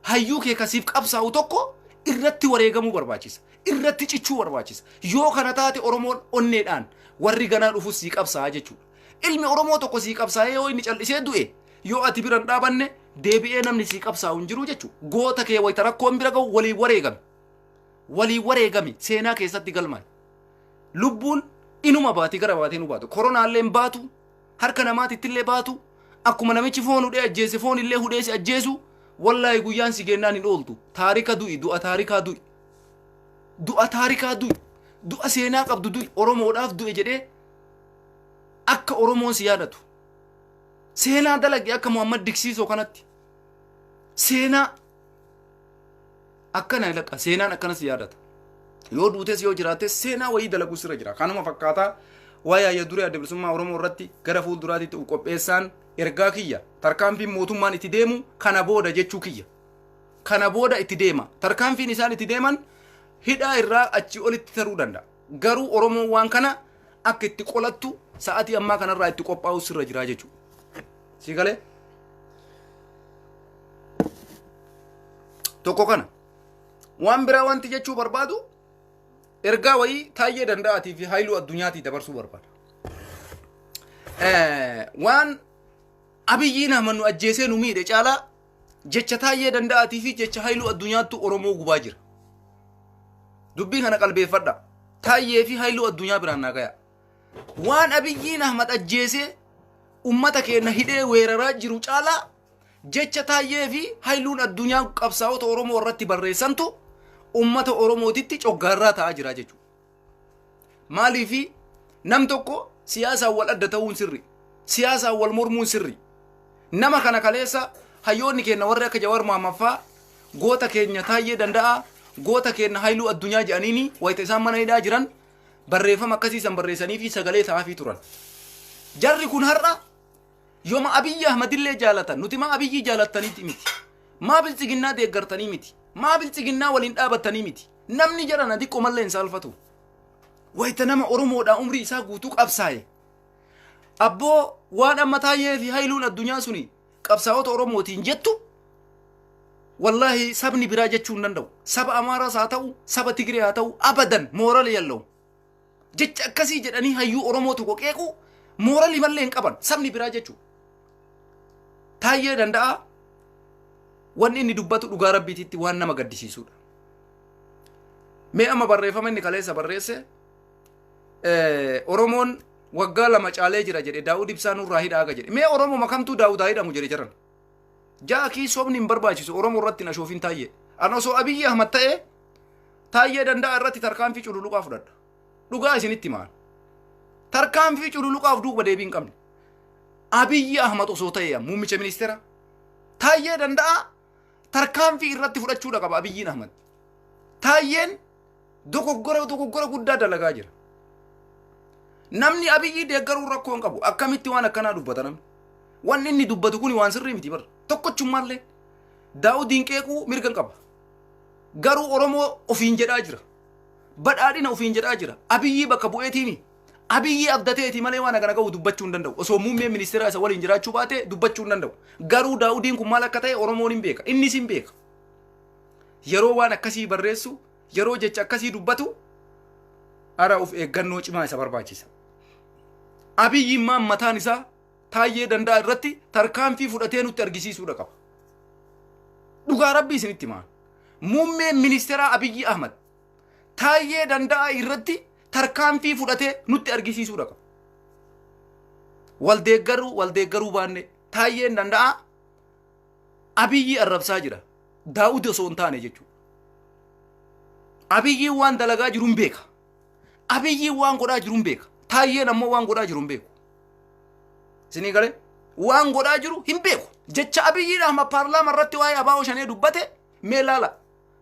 A: Hayyuu kee ka siif qabsaa'u tokko irratti wareegamuu barbaachisa. Irratti cichuu barbaachisa. Yoo kana taate Oromoon onneedhaan warri ganaa dhufus sii qabsaa'a jechuudha. Ilmi Oromoo tokko sii qabsaa'ee yoo inni cal'isee du'e yoo ati bira hin dhaabanne deebi'ee namni sii qabsaa'u hin jiru jechuudha. Goota kee wayita rakkoon bira ga'u waliin wareegami. Waliin wareegami seenaa keessatti galmaa'e. Lubbuun inuma baati gara baatee nu baatu. Koronaallee hin baatu. harka namaatittillee baatu akkuma namichi foon hudhee ajjeese foon illee hudhee si ajjeesu wallaahi guyyaan si geennaan hin ooltu taarika du'i du'a taarikaa du'i du'a taarikaa du'i du'a seenaa qabdu du'i oromoodhaaf du'e jedhee akka oromoon si yaadatu seenaa dalage akka muhammad diksiisoo kanatti seenaa Akkana ilaqa seenaan akkana si yaadata. Yoo duutes yoo jiraates seenaa wayii dalaguu sirra jira. Kanuma fakkaataa waa'ee hayya duree adda bilisummaa Oromoo irratti gara fuulduraatti ta'u qopheessaan ergaa kiyya tarkaanfiin mootummaan itti deemu kana booda jechuu kiyya. Kana booda itti deema. Tarkaanfiin isaan itti deeman hidhaa irraa achii olitti taruu danda'a. Garuu Oromoon waan kana akka itti qolattu sa'aatii ammaa kanarraa itti qophaa'u sirra jira jechuudha. sii galee tokko kana waan biraa wanti jechuu barbaadu ergaa wayii taayyee danda'aatii fi haayiluu addunyaatii dabarsuu barbaada Eh, waan abiyyiin ahmad nu ajjeesee nu miidhe caalaa jecha taayyee danda'aatii fi jecha haayiluu addunyaattu oromoo gubaa jira dubbii kana qalbeeffadha taayyee fi haayiluu addunyaa biraan naa gayaa Waan Abiyyiin Ahmad ajjeesee ummata keenya hidhee weeraraa jiru caalaa jecha taayyee fi hailuun addunyaa qabsaa'ota Oromoo irratti barreessantu ummata Oromootitti coggaarraa ta'aa jira jechuudha. Maaliif nam tokko siyaasaan wal adda ta'uun sirri, siyaasaan wal mormuun sirri. Nama kana kaleessa hayyoonni keenya warri akka Jawar Maammaffaa goota keenya taayyee danda'a, goota keenya hailuu addunyaa jedhaniini wayita isaan mana hidhaa jiran barreeffama akkasii san barreessanii fi sagalee ta'aafii turan. Jarri kun har'a yooma Abiyyi Ahmadillee jaalatan nuti maa Abiyyi jaalattaniiti miti. Maa bilchiginnaa deeggartanii miti. Maa bilchiginnaa waliin dhaabattanii miti. Namni jedhan ati qomallee hin saalfatu. Wayita nama Oromoodhaa umrii isaa guutuu qabsaa'e. Abboo waan amma taayee fi hailuun addunyaa suni qabsaa'ota Oromootiin jettu wallaahi sabni biraa jechuu hin danda'u. Saba Amaaraas haa ta'u, saba Tigree haa ta'u, abadan moorali yalla'u. Jecha akkasii jedhanii hayyuu Oromoo tokko qeequu moorali mallee hin qaban sabni biraa jechuu. Taayyee danda'a wanni inni dubbatu dhugaa rabbiititti waan nama gaddisiisudha. Mee amma barreeffama inni kaleessa barreesse eh, Oromoon waggaa lama caalee jira jedhe Daawud Ibsaa nurraa hidhaa aga jedhe. Mee Oromoo kamtuu Daawud haa hidhamu jedhe jiran. Jaakii sobni hin barbaachisu Oromoo irratti hin ashoofin taayye. An osoo Abiyyi Ahmad ta'ee taayye danda'a irratti tarkaanfii cululuqaa fudhadha. Dhugaa isinitti maal? Tarkaanfii cululuqaaf duuba deebii hin qabne. Abiyyi Ahmad osoo ta'ee muummicha ministeera taayye danda'a tarkaanfii irratti fudhachuudha qaba Abiyyiin Ahmad. Taayyeen dogoggora dogoggora guddaa dalagaa jira. Namni Abiyyii deeggaruu rakkoo hin qabu. Akkamitti waan akkanaa dubbata namni? Wanni inni dubbatu kun waan sirrii miti bara. Tokkochummaallee daawudiin qeequu mirga hin qaba. Garuu Oromoo ofiin jedhaa jira. Badhaadhina ofiin jedhaa jira. Abiyyii bakka bu'eetiimi. Abiyyi abdateeti malee waan kana qabu dubbachuu hin danda'u. Osoo muummeen ministeeraa isa waliin jiraachuu baate dubbachuu hin danda'u. Garuu Daawudiin kun maal akka ta'e Oromoon hin beeka. Innis hin beeka. Yeroo waan akkasii barreessu, yeroo jecha akkasii dubbatu, ara of eeggannoo cimaa isa barbaachisa. Abiyyi immaan mataan isaa taayyee danda'a irratti tarkaanfii fudhatee nutti argisiisuudha qaba. Dhugaa rabbii isinitti himaa. Muummeen ministeeraa Abiyyi Ahmad Taayyee Danda'aa irratti tarkaanfii fudhatee nutti argisiisuudha qabu. Waldeeggaruu waldeeggaruu baannee Taayyeen Danda'aa Abiyyii arrabsaa jira. Daawudi osoo hin taane jechuudha. Abiyyiin waan dalagaa jiru hin beeka. Abiyyiin waan godhaa jiru hin beeka. Taayyeen ammoo waan godhaa jiru hin beeku. Isinii galee waan godhaa jiru hin beeku. Jecha Abiyyiin Ahmad paarlaama irratti waa'ee Abaa'oo Shanee dubbate mee laala.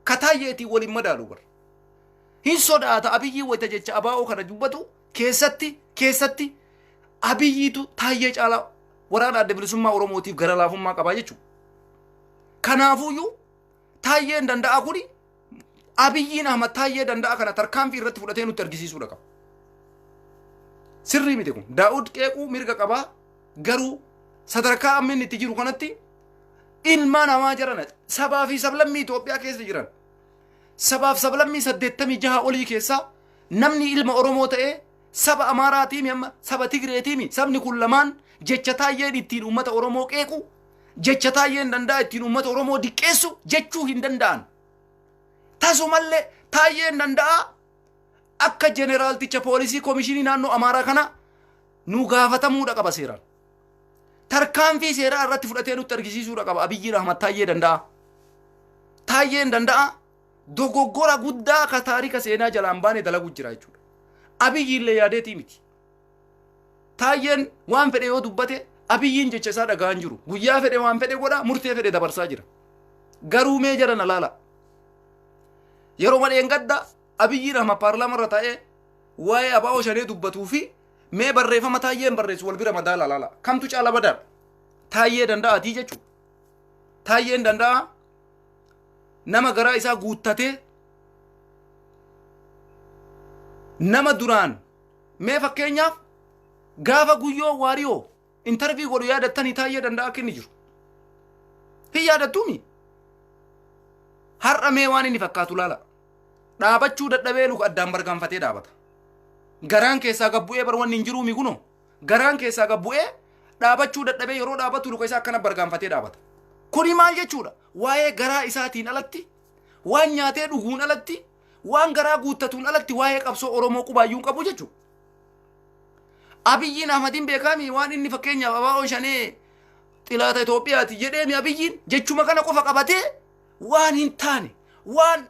A: ka taayyeetiin wal hin madaalu bar. Hin sodaata Abiyyii wayita jecha abaa'oo kana dubbatu keessatti keessatti Abiyyiitu taayyee caalaa waraana adda bilisummaa Oromootiif gara laafummaa qabaa jechuudha. Kanaafuyyuu taayyeen danda'a kuni Abiyyiin Ahmad taayyee danda'a kana tarkaanfii irratti fudhatee nutti argisiisuudha qaba. Sirrii miti kun. Daa'ud qeequu mirga qabaa garuu sadarkaa amma inni itti jiru kanatti ilmaa namaa jiran sabaa fi sablammii Itoophiyaa keessa jiran sabaaf sablammii saddeettamii jaha olii keessaa namni ilma Oromoo ta'ee saba Amaaraatiimi amma saba Tigreetiimi sabni kun lamaan jecha taayyeen ittiin uummata Oromoo qeequ jecha taayyeen danda'a ittiin uummata Oromoo diqqeessu jechuu hin danda'an. Tasumallee taayyeen danda'a akka jeneraalticha poolisii komishinii naannoo Amaaraa kana nu gaafatamuudha qaba seeraan. tarkaanfii seeraa irratti fudhatee nutti argisiisuudha qaba Abiyyiin Ahmad Taayyee danda'a. Taayyeen danda'a dogoggora guddaa ka taarika seenaa jalaan baane dalagu jira jechuudha. Abiyyiin illee yaadeetii miti. Taayyeen waan fedhe yoo dubbate Abiyyiin jecha isaa dhaga'aa hin jiru. Guyyaa fedhe waan fedhe godha murtee fedhe dabarsaa jira. Garuu mee jara na laala. Yeroo madheen gadda Abiyyiin Ahmad paarlaamaa irra taa'ee waa'ee abaa'oo shanee dubbatuu fi Mee barreeffama taayyeen barreessu wal bira madaala laala. Kamtu caala badaadha? Taayyee danda'aatii jechuudha. Taayyeen danda'aa nama garaa isaa guuttatee nama duraan mee fakkeenyaaf gaafa guyyoo waariyoo intervii godhu yaadattanii taayyee danda'a akka inni jiru. Hin yaadattuumi. Har'a mee waan inni fakkaatu laala. Dhaabachuu dadhabee luka addaan bargaanfatee dhaabata. Garaan keessaa gad bu'ee bar wanni hin jiruumi kunoo. Garaan keessaa gad bu'ee dhaabachuu dadhabee yeroo dhaabatu luka isaa akkana bargaanfatee dhaabata. Kuni maal jechuudha? Waa'ee garaa isaatiin alatti, waan nyaatee dhuguun alatti, waan garaa guuttatuun alatti waa'ee qabsoo Oromoo qubaayyuu hin qabu jechuudha. Abiyyiin Ahmadiin beekaami waan inni fakkeenyaaf abaa'oo shanee xilaata Itoophiyaati jedheemi Abiyyiin jechuma kana qofa qabatee waan hin taane waan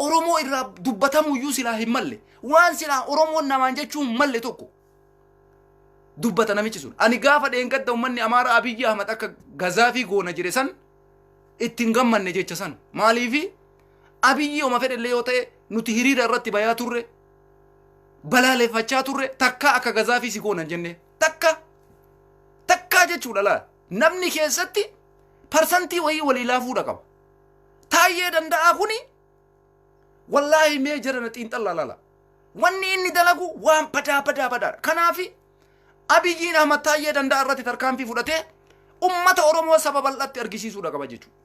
A: Oromoo irraa dubbatamu iyyuu silaa hin malle waan silaa Oromoon namaan jechuu hin malle tokko dubbata namichi sun. Ani gaafa dheengadda uummanni Amaaraa Abiyyi Ahmad akka gazaafii goona jedhe san ittiin gammanne jecha san maaliifi Abiyyi oma fedhellee yoo ta'e nuti hiriira irratti bayaa turre balaaleffachaa turre takkaa akka gazaafii si goonan jennee takka takkaa jechuudha laal namni keessatti parsantii wayii walii laafuudha qaba taayyee danda'aa kuni wallaahi mee jedhana xiinxallaa laala wanni inni dalagu waan badaa badaa badaadha kanaafi abiyyiin ahmad taayyee danda'aa irratti tarkaanfii fudhatee ummata oromoo saba bal'atti argisiisuudha qaba jechuudha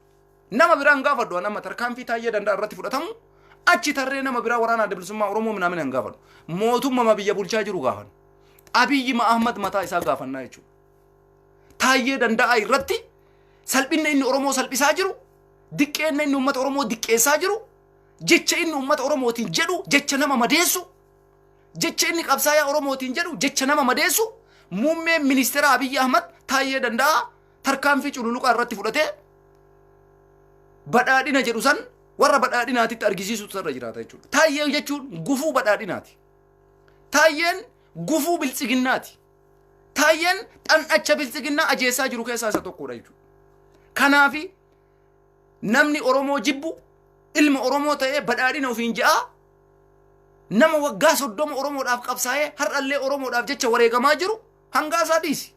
A: Nama biraa hin gaafadhu an amma tarkaanfii taayyee danda'a irratti fudhatamu achi tarree nama biraa waraana adda bilisummaa Oromoo minaamin hin gaafadhu. Mootummaa biyya bulchaa jiru gaafanna. Abiyyi Ahmad mataa isaa gaafannaa jechuudha. Taayyee danda'a irratti salphinna inni Oromoo salphisaa jiru, diqqeenna inni uummata Oromoo diqqeessaa jiru, jecha inni uummata Oromootiin jedhu jecha nama madeessu, jecha inni qabsaayaa Oromootiin jedhu jecha nama madeessu, muummeen ministeera Abiyyi Ahmad taayyee danda'a tarkaanfii cululuqaa irratti fudhatee badhaadhina jedhu san warra badhaadhinaatitti argisiisutu irra jiraata jechuudha. Taayyee jechuun gufuu badhaadhinaati. Taayyeen gufuu biltsiginnaati. Taayyeen xan'acha biltsiginnaa ajeessaa jiru keessaa isa tokkodha jechuudha. Kanaafi namni Oromoo jibbu ilma Oromoo ta'ee badhaadhina ofiin ja'a nama waggaa soddoma Oromoodhaaf qabsaa'ee har'allee Oromoodhaaf jecha wareegamaa jiru Hangaasaa dhiisi.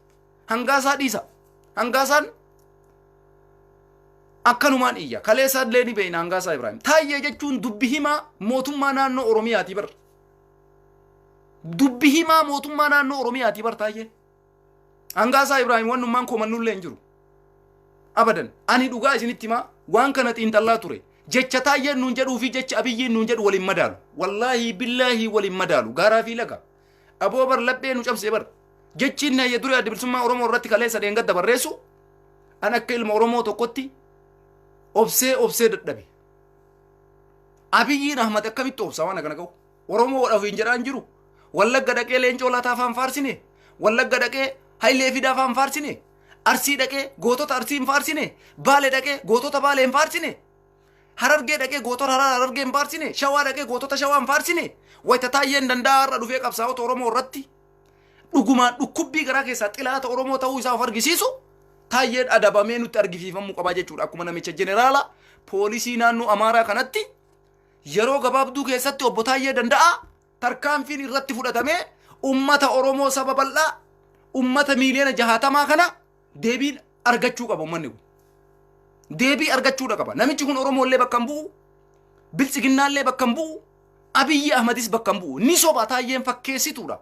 A: Hangaasaa dhiisa. Hangaasaan akkanumaan iyya. Kaleessaa illee ni beekna Hangaasaa Ibraahim. Taayyee jechuun dubbi himaa mootummaa naannoo Oromiyaati bar. Dubbi himaa mootummaa naannoo Oromiyaati bar taayyee. Hangaasaa Ibraahim wannummaan komannullee hin jiru. Abadan ani dhugaa isinitti himaa waan kana xiinxallaa ture. Jecha taayyeen nuun jedhuu fi jecha abiyyiin nuun jedhu waliin madaalu. Wallaahi billaahi waliin madaalu. Gaaraa fi laga. Aboo bar laphee nu cabsee bar. Jechiin na ya duree adda bilisummaa Oromoo irratti kaleessa dheengadda barreessu an akka ilma Oromoo tokkotti obsee obsee dadhabe. Abiyyiin Ahmad akkamitti obsa waan akkana qabu? Oromoo wadhaaf hin jedhaan jiru. Wallagga dhaqee leencoo laataa afaan faarsine. Wallagga dhaqee hayilee fidaa afaan faarsine. Arsii dhaqee gootota arsii hin faarsine. Baale dhaqee gootota baale hin faarsine. Harargee dhaqee gootota harar harargee hin faarsine, shawaa dhaqee gootota shawaa hin faarsine, wayita taayyeen danda'a har'a dhufee qabsaa'ota Oromoo irratti dhugumaan dhukkubbii garaa keessaa xilaata Oromoo ta'uu isaa of argisiisu taayyeen adabamee nutti argisiifamuu qabaa jechuudha. Akkuma namicha jeneraala poolisii naannoo Amaaraa kanatti yeroo gabaabduu keessatti obbo Taayyee danda'a tarkaanfiin irratti fudhatamee ummata Oromoo saba bal'aa ummata miiliyoona jahaatamaa kana deebiin argachuu qaba ummanni kun. Deebii argachuudha qaba. Namichi kun Oromoollee bakka hin bu'u, Biltsiginnaallee bakka hin bu'u, Abiyyi Ahmadis bakka hin bu'u. Ni soba taayyeen fakkeessituudha.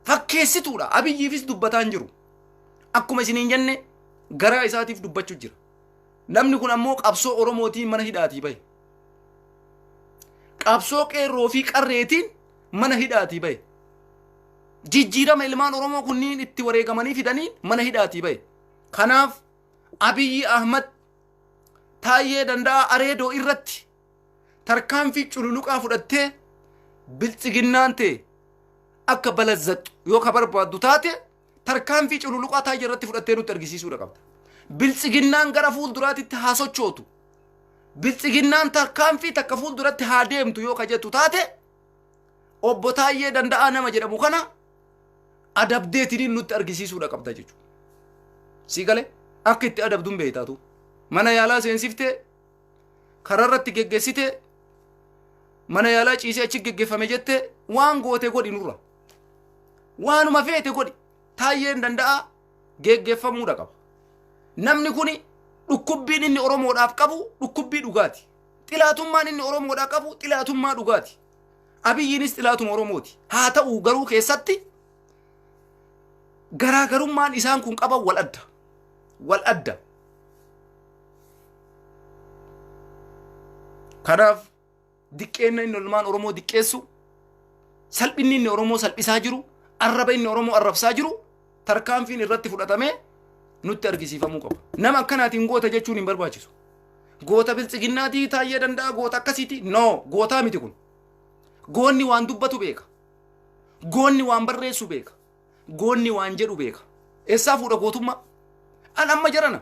A: Fakkeessituudha. Abiyyiifis dubbataa hin jiru. Akkuma isiniin jenne garaa isaatiif dubbachuu jira. Namni kun ammoo qabsoo Oromootiin mana hidhaatii bahe. Qabsoo qeerroo fi qarreetiin mana hidhaatii bahe. jijjiirama ilmaan Oromoo kunniin itti wareegamanii fidanii mana hidhaatii bahe. Kanaaf Abiyyi Ahmad Taayyee Danda'aa Areedoo irratti tarkaanfii cululuqaa fudhattee biltsiginnaan ta'e akka balazzattu yoo ka barbaaddu taate tarkaanfii cululuqaa Taayyee irratti fudhattee nutti argisiisuudha qabda. Biltsiginnaan gara fuulduraatitti haa sochootu. Biltsiginnaan tarkaanfii takka fuulduratti haa deemtu yoo ka jettu taate Obbo Taayyee Danda'aa nama jedhamu kana adabdeetiniin nutti argisiisuudha qabda jechuudha. Si galee akka itti adabduun beektaatu mana yaalaa seensiftee karaa irratti geggeessitee mana yaalaa ciisee achi geggeeffame jettee waan goote godhi nurra. Waanuma feete godhi taayyeen danda'aa geggeeffamuudha qaba. Namni kuni dhukkubbiin inni Oromoodhaaf qabu dhukkubbii dhugaati. Xilaatummaan inni Oromoodhaaf qabu xilaatummaa dhugaati. Abiyyiinis xilaatuma Oromooti. Haa ta'u garuu keessatti garaagarummaan isaan kun qaban wal adda. Wal adda. Kanaaf diqqeenna inni ilmaan Oromoo diqqeessu, salphinni inni Oromoo salphisaa jiru, arraba inni Oromoo arrabsaa jiru tarkaanfiin irratti fudhatamee nutti argisiifamuu qaba. Nama akkanaatiin goota jechuun hin barbaachisu. Goota biltsiginnaatii taayyee danda'a goota akkasiiti. No gootaa miti kun. Goonni waan dubbatu beeka. Goonni waan barreessu beeka. Goonni waan jedhu beeka. Eessaa fuudha gootummaa? An amma jarana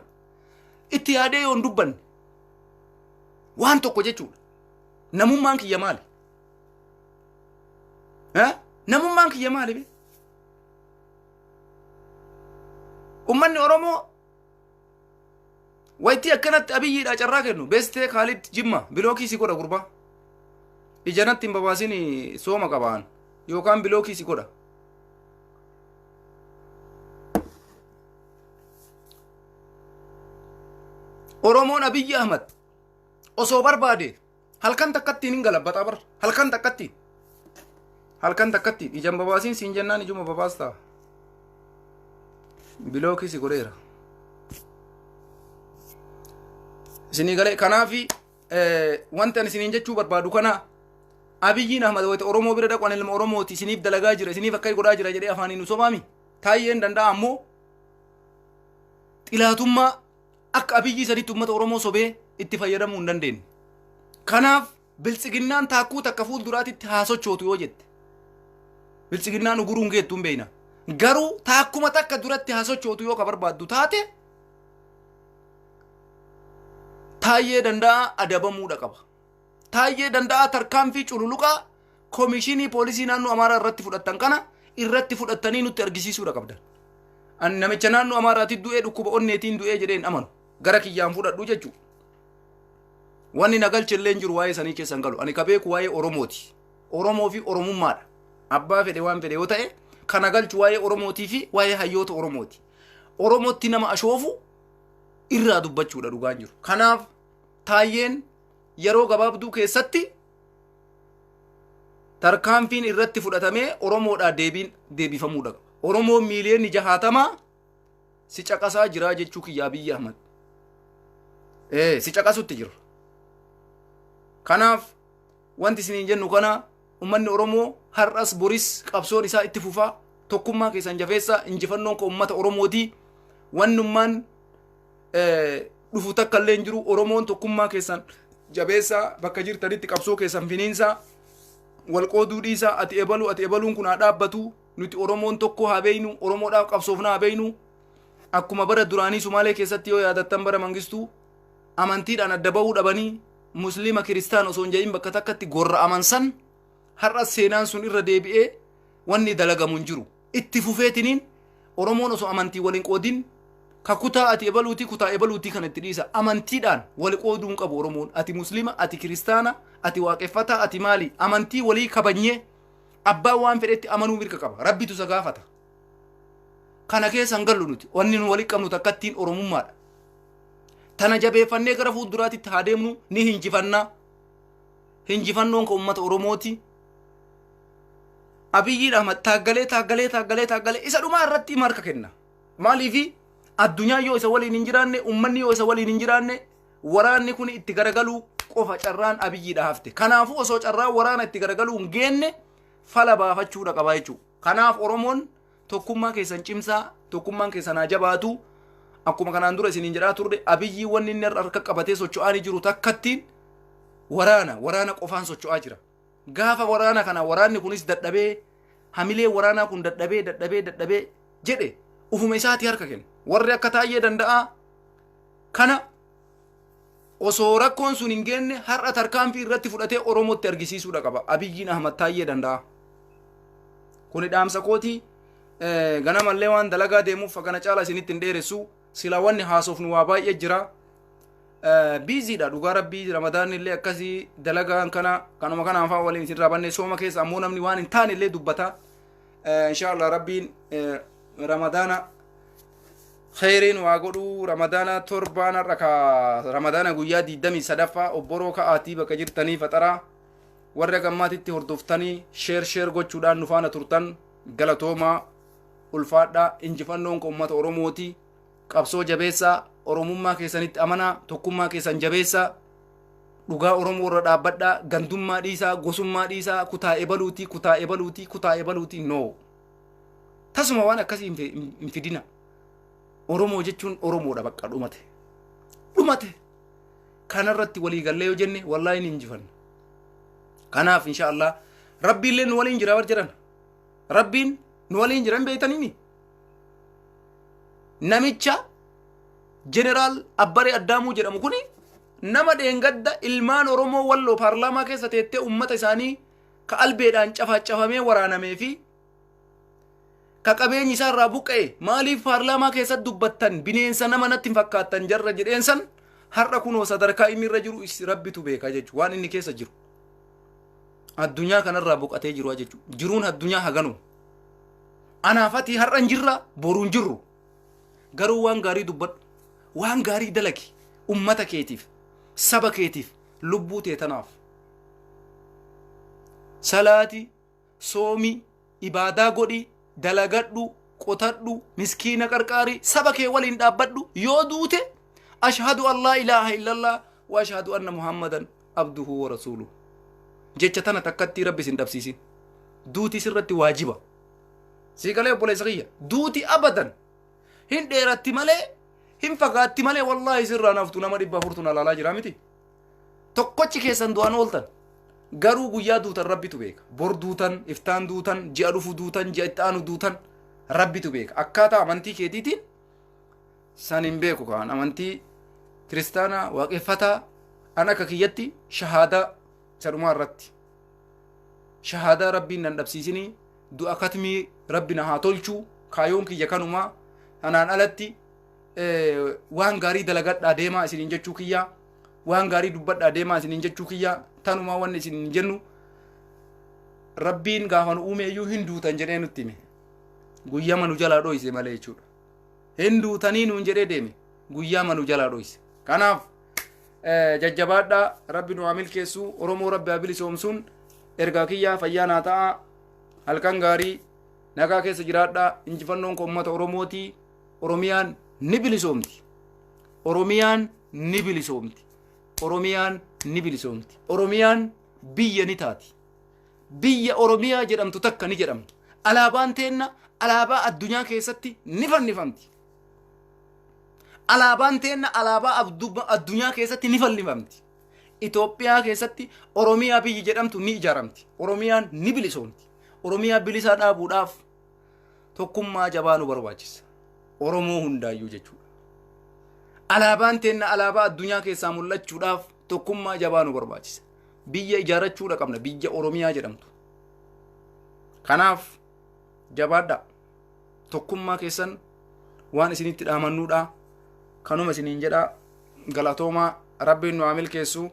A: itti yaadee yoon dubbanne waan tokko jechuudha. Namummaan kiyya maali? Eh? Namummaan kiyya maali? bee? ummanni oromoo waytii akkanatti abiyyiidha carraa kennu beestee kaalid jimma bilookii si godha gurbaa ijanatti hin babaasin sooma qabaan yookaan bilookii si godha oromoon abiyyi ahmad osoo barbaade halkan takkattiin hin galabbataa bar halkan takkattiin halkan takkattiin ijaan babaasiin siin jennaan ijuma babaastaa bilookii si godheera isinii galee kanaafi wanti ani isiniin jechuu barbaadu kana abiyyiin ahmad wayita oromoo bira dhaqan ilma oromooti isiniif dalagaa jira isiniif akka godhaa jira jedhee afaaniin nu sobaami taayyeen danda'a ammoo xilaatummaa Akka abiyyii sanitti uummata Oromoo sobee itti fayyadamuu hin dandeenye. Kanaaf biltsiginnaan taakkuu takka fuulduraatitti haa sochootu yoo jette. Biltsiginnaan uguruun geettu hin beeyna. Garuu taakkuma takka duratti haa sochootu yoo ka barbaaddu taate taayyee danda'a adabamuudha qaba. Taayyee Danda'aa tarkaanfii cululuqaa Komishinii Poolisii Naannoo Amaaraa irratti fudhattan kana irratti fudhattanii nutti argisiisuudha qabdan. Ani namicha naannoo Amaaraatiin du'ee dhukkuba onneetiin du'ee jedhee hin amanu. Gara kiyyaan fudhadhu jechuudha. Wanni na galche illee hin jiru waa'ee sanii keessa hin galu. Ani ka beeku waa'ee Oromooti. Oromoo fi Oromummaadha. Abbaa fedhe waan fedhe yoo ta'e ka na galchu waa'ee Oromootii fi waa'ee hayyoota Oromooti. Oromootti nama ashoofu irraa dubbachuudha dhugaan jiru. Kanaaf taayyeen yeroo gabaabduu keessatti tarkaanfiin irratti fudhatamee Oromoodhaa deebiin deebifamuudha. Oromoon miiliyoonni jahaatamaa si caqasaa jiraa jechuu kiyya Abiyyi Ahmad. Ee, si caqasutti jiru. Kanaaf wanti isiniin jennu kana ummanni Oromoo har'as boris qabsoon isaa itti fufaa tokkummaa keessan jafeessaa injifannoon koo ummata Oromootii wannummaan dhufu takka illee hin jiru oromoon tokkummaa keessan jabeessaa bakka jirtanitti qabsoo keessan finiinsaa wal qooduu dhiisaa ati ebaluu ati ebaluun kun haa dhaabbatu nuti oromoon tokko haa beeynu oromoodhaaf qabsoofna haa beeynu akkuma bara duraanii sumaalee keessatti yoo yaadattan bara mangistuu amantiidhaan adda ba'uu dhabanii musliima kiristaan osoo hin jedhin bakka takkatti gorra'aman san har'a seenaan sun irra deebi'ee wanni dalagamu hin jiru Itti fufeetiniin Oromoon osoo amantiin wal hin qoodin ka kutaa ati ebaluutii kutaa ebaluutii kana itti dhiisa amantiidhaan wal qooduu hin qabu Oromoon ati muslima ati kiristaana ati waaqeffataa ati maali amantii walii kabajnee abbaan waan fedhetti amanuu mirga qaba rabbitu isa gaafata kana keessa hin gallu nuti wanni nu walii qabnu takkattiin Oromummaadha tana jabeeffannee gara fuulduraatitti haa deemnu ni hinjifannaa hinjifannoon ka ummata Oromooti Abiyyiin Ahmad taaggalee taaggalee taaggalee taaggalee isa dhumaa irratti hima harka kenna. Maaliifi addunyaan yoo isa waliin hin jiraanne ummanni yoo isa waliin hin jiraanne waraanni kun itti garagaluu qofa carraan abiyyiidha hafte. Kanaafuu osoo carraan waraana itti garagaluu hin geenne fala baafachuudha qaba jechuudha. Kanaaf Oromoon tokkummaa keessan cimsaa tokkummaan keessan haa jabaatu. Akkuma kanaan dura isiniin jedhaa turre abiyyi wanni inni harka qabatee socho'aa ni jiru takkattiin waraana waraana qofaan socho'aa jira. Gaafa waraana kana waraanni kunis dadhabee hamilee waraanaa kun dadhabee dadhabee dadhabee jedhe ufuma isaati harka kenne. Warri akka taayyee danda'aa kana osoo rakkoon sun hin geenne har'a tarkaanfii irratti fudhatee Oromootti argisiisuudha qaba. Abiyyiin Ahmad taayyee danda'aa. Kuni dhaamsa kooti ganamallee waan dalagaa deemuuf kana caala isinitti hin dheeressu. Silaa wanni haasofnu waa baay'ee jira. Biiziidha dhugaa rabbii ramadaanni illee akkasii dalagaan kana kanuma kana afaan waliin isin raabannee sooma keessa ammoo namni waan hin taane illee dubbata. Inshaallah rabbiin ramadaana kheyriin waa godhuu ramadaana torbaan har'a ka ramadaana guyyaa digdamii sadaffaa obboroo ka'aatii bakka jirtanii faxaraa warra gammaatitti hordoftanii sheer sheer gochuudhaan nu faana turtan galatoomaa. ulfaadhaa injifannoon koo ummata oromooti qabsoo jabeessaa oromummaa keessanitti amanaa tokkummaa keessan jabeessaa dhugaa oromoo irra dhaabbadhaa gandummaa dhiisaa gosummaa dhiisaa kutaa ebaluutii kutaa ebaluutii kutaa ebaluutii no tasuma waan akkasii hin fi- hin fidina oromoo jechuun oromoodha bakka dhumate dhumate kanarratti walii gallee yoo jenne wallaahi ni injifanna kanaaf insha allah rabbiillee nu waliin jira bar jedhan rabbiin nu waliin jiran beeytanimi namicha jeneraal abbaree addaamuu jedhamu kuni nama dheengadda ilmaan oromoo walloo paarlaamaa keessa teettee ummata isaanii ka albeedhaan cafaacafamee waraanamee fi ka qabeenyi isaa irraa buqqa'e maaliif paarlaamaa keessatti dubbattan bineensa nama natti hin fakkaattan jarra jedheensan har'a kunoo sadarkaa inni irra jiru is- rabbitu beeka jechuudha waan inni keessa jiru. addunyaa kanarraa boqatee jiru jechuudha. Jiruun addunyaa haganu. Anaaf ati har'a hin jirra boru hin jirru. Garuu waan gaarii dubbadhu. Waan gaarii dalagi. Ummata keetiif, saba keetiif, lubbuu tee tanaaf. Salaati soomi, ibaadaa godhi, dalagadhu, qotadhu, miskiina qarqaari, saba kee waliin dhaabbadhu, yoo duute ashhadu an laa ilaaha illallah wa ashhadu anna muhammadan abduhu wa rasuuluhu. Jecha tana takkatti rabbi sin dhabsiisin. Duuti sirratti waajiba. Sii galee obboleessa kiyya. Duuti abadan. Hin dheeratti malee hin fagaatti malee wallaahi sirraa naftu nama dhibba afurtu na laalaa jira miti. tokkochi keessan du'an ooltan garuu guyyaa duutan rabbitu beeka bor duutan iftaan duutan ji'a dhufu duutan ji'a itti aanu duutan rabbitu beeka akkaataa amantii keetiitiin san hin beeku kaan amantii kiristaanaa waaqeffataa an akka kiyyatti shahaadaa isa dhumaa irratti shahaadaa rabbiin nan dhabsiisinii du'a katmii rabbi na haa tolchuu kaayoon kiyya kanumaa kanaan alatti eh, waan gaarii dalagadhaa deemaa isiniin jechuu kiyyaa waan gaarii dubbadhaa deemaa isiniin jechuu kiyyaa tanumaa wanni isin hin jennu rabbiin gaafa nu uume iyyuu hin duutan jedhee nutti hime guyyama nu jalaa dhoyse malee jechuudha hin duutanii nuun jedhee deeme guyyama nu jalaa dhoyse kanaaf eh, jajjabaadhaa rabbi nu haa milkeessu oromoo rabbi haa bilisoomsuun ergaa kiyyaa fayyaa naa ta'a halkan gaarii nagaa keessa jiraadhaa injifannoon koo ummata oromootii Oromiyaan ni bilisoomti. Oromiyaan ni bilisoomti. Oromiyaan ni bilisoomti. Oromiyaan biyya ni taati. Biyya Oromiyaa jedhamtu takka ni jedhamti. Alaabaan teenna alaabaa addunyaa keessatti ni fannifamti. Alaabaan teenna alaabaa abdu- addunyaa keessatti ni fannifamti. Itoophiyaa keessatti Oromiyaa biyyi jedhamtu ni ijaaramti. Oromiyaan ni bilisoomti. Oromiyaa bilisaa dhaabuudhaaf tokkummaa jabaa nu barbaachisa oromoo hundaayyuu jechuudha alaabaan teenna alaabaa addunyaa keessaa mul'achuudhaaf tokkummaa jabaa nu barbaachisa biyya ijaarrachuudha qabna biyya oromiyaa jedhamtu kanaaf jabaadhaa tokkummaa keessan waan isinitti dhaamannuudha kanuma isiniin jedha galatoomaa rabbiin nu haa milkeessu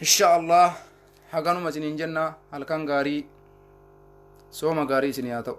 A: insha allah haganuma isiniin jenna halkan gaarii sooma gaarii isinii haa ta'u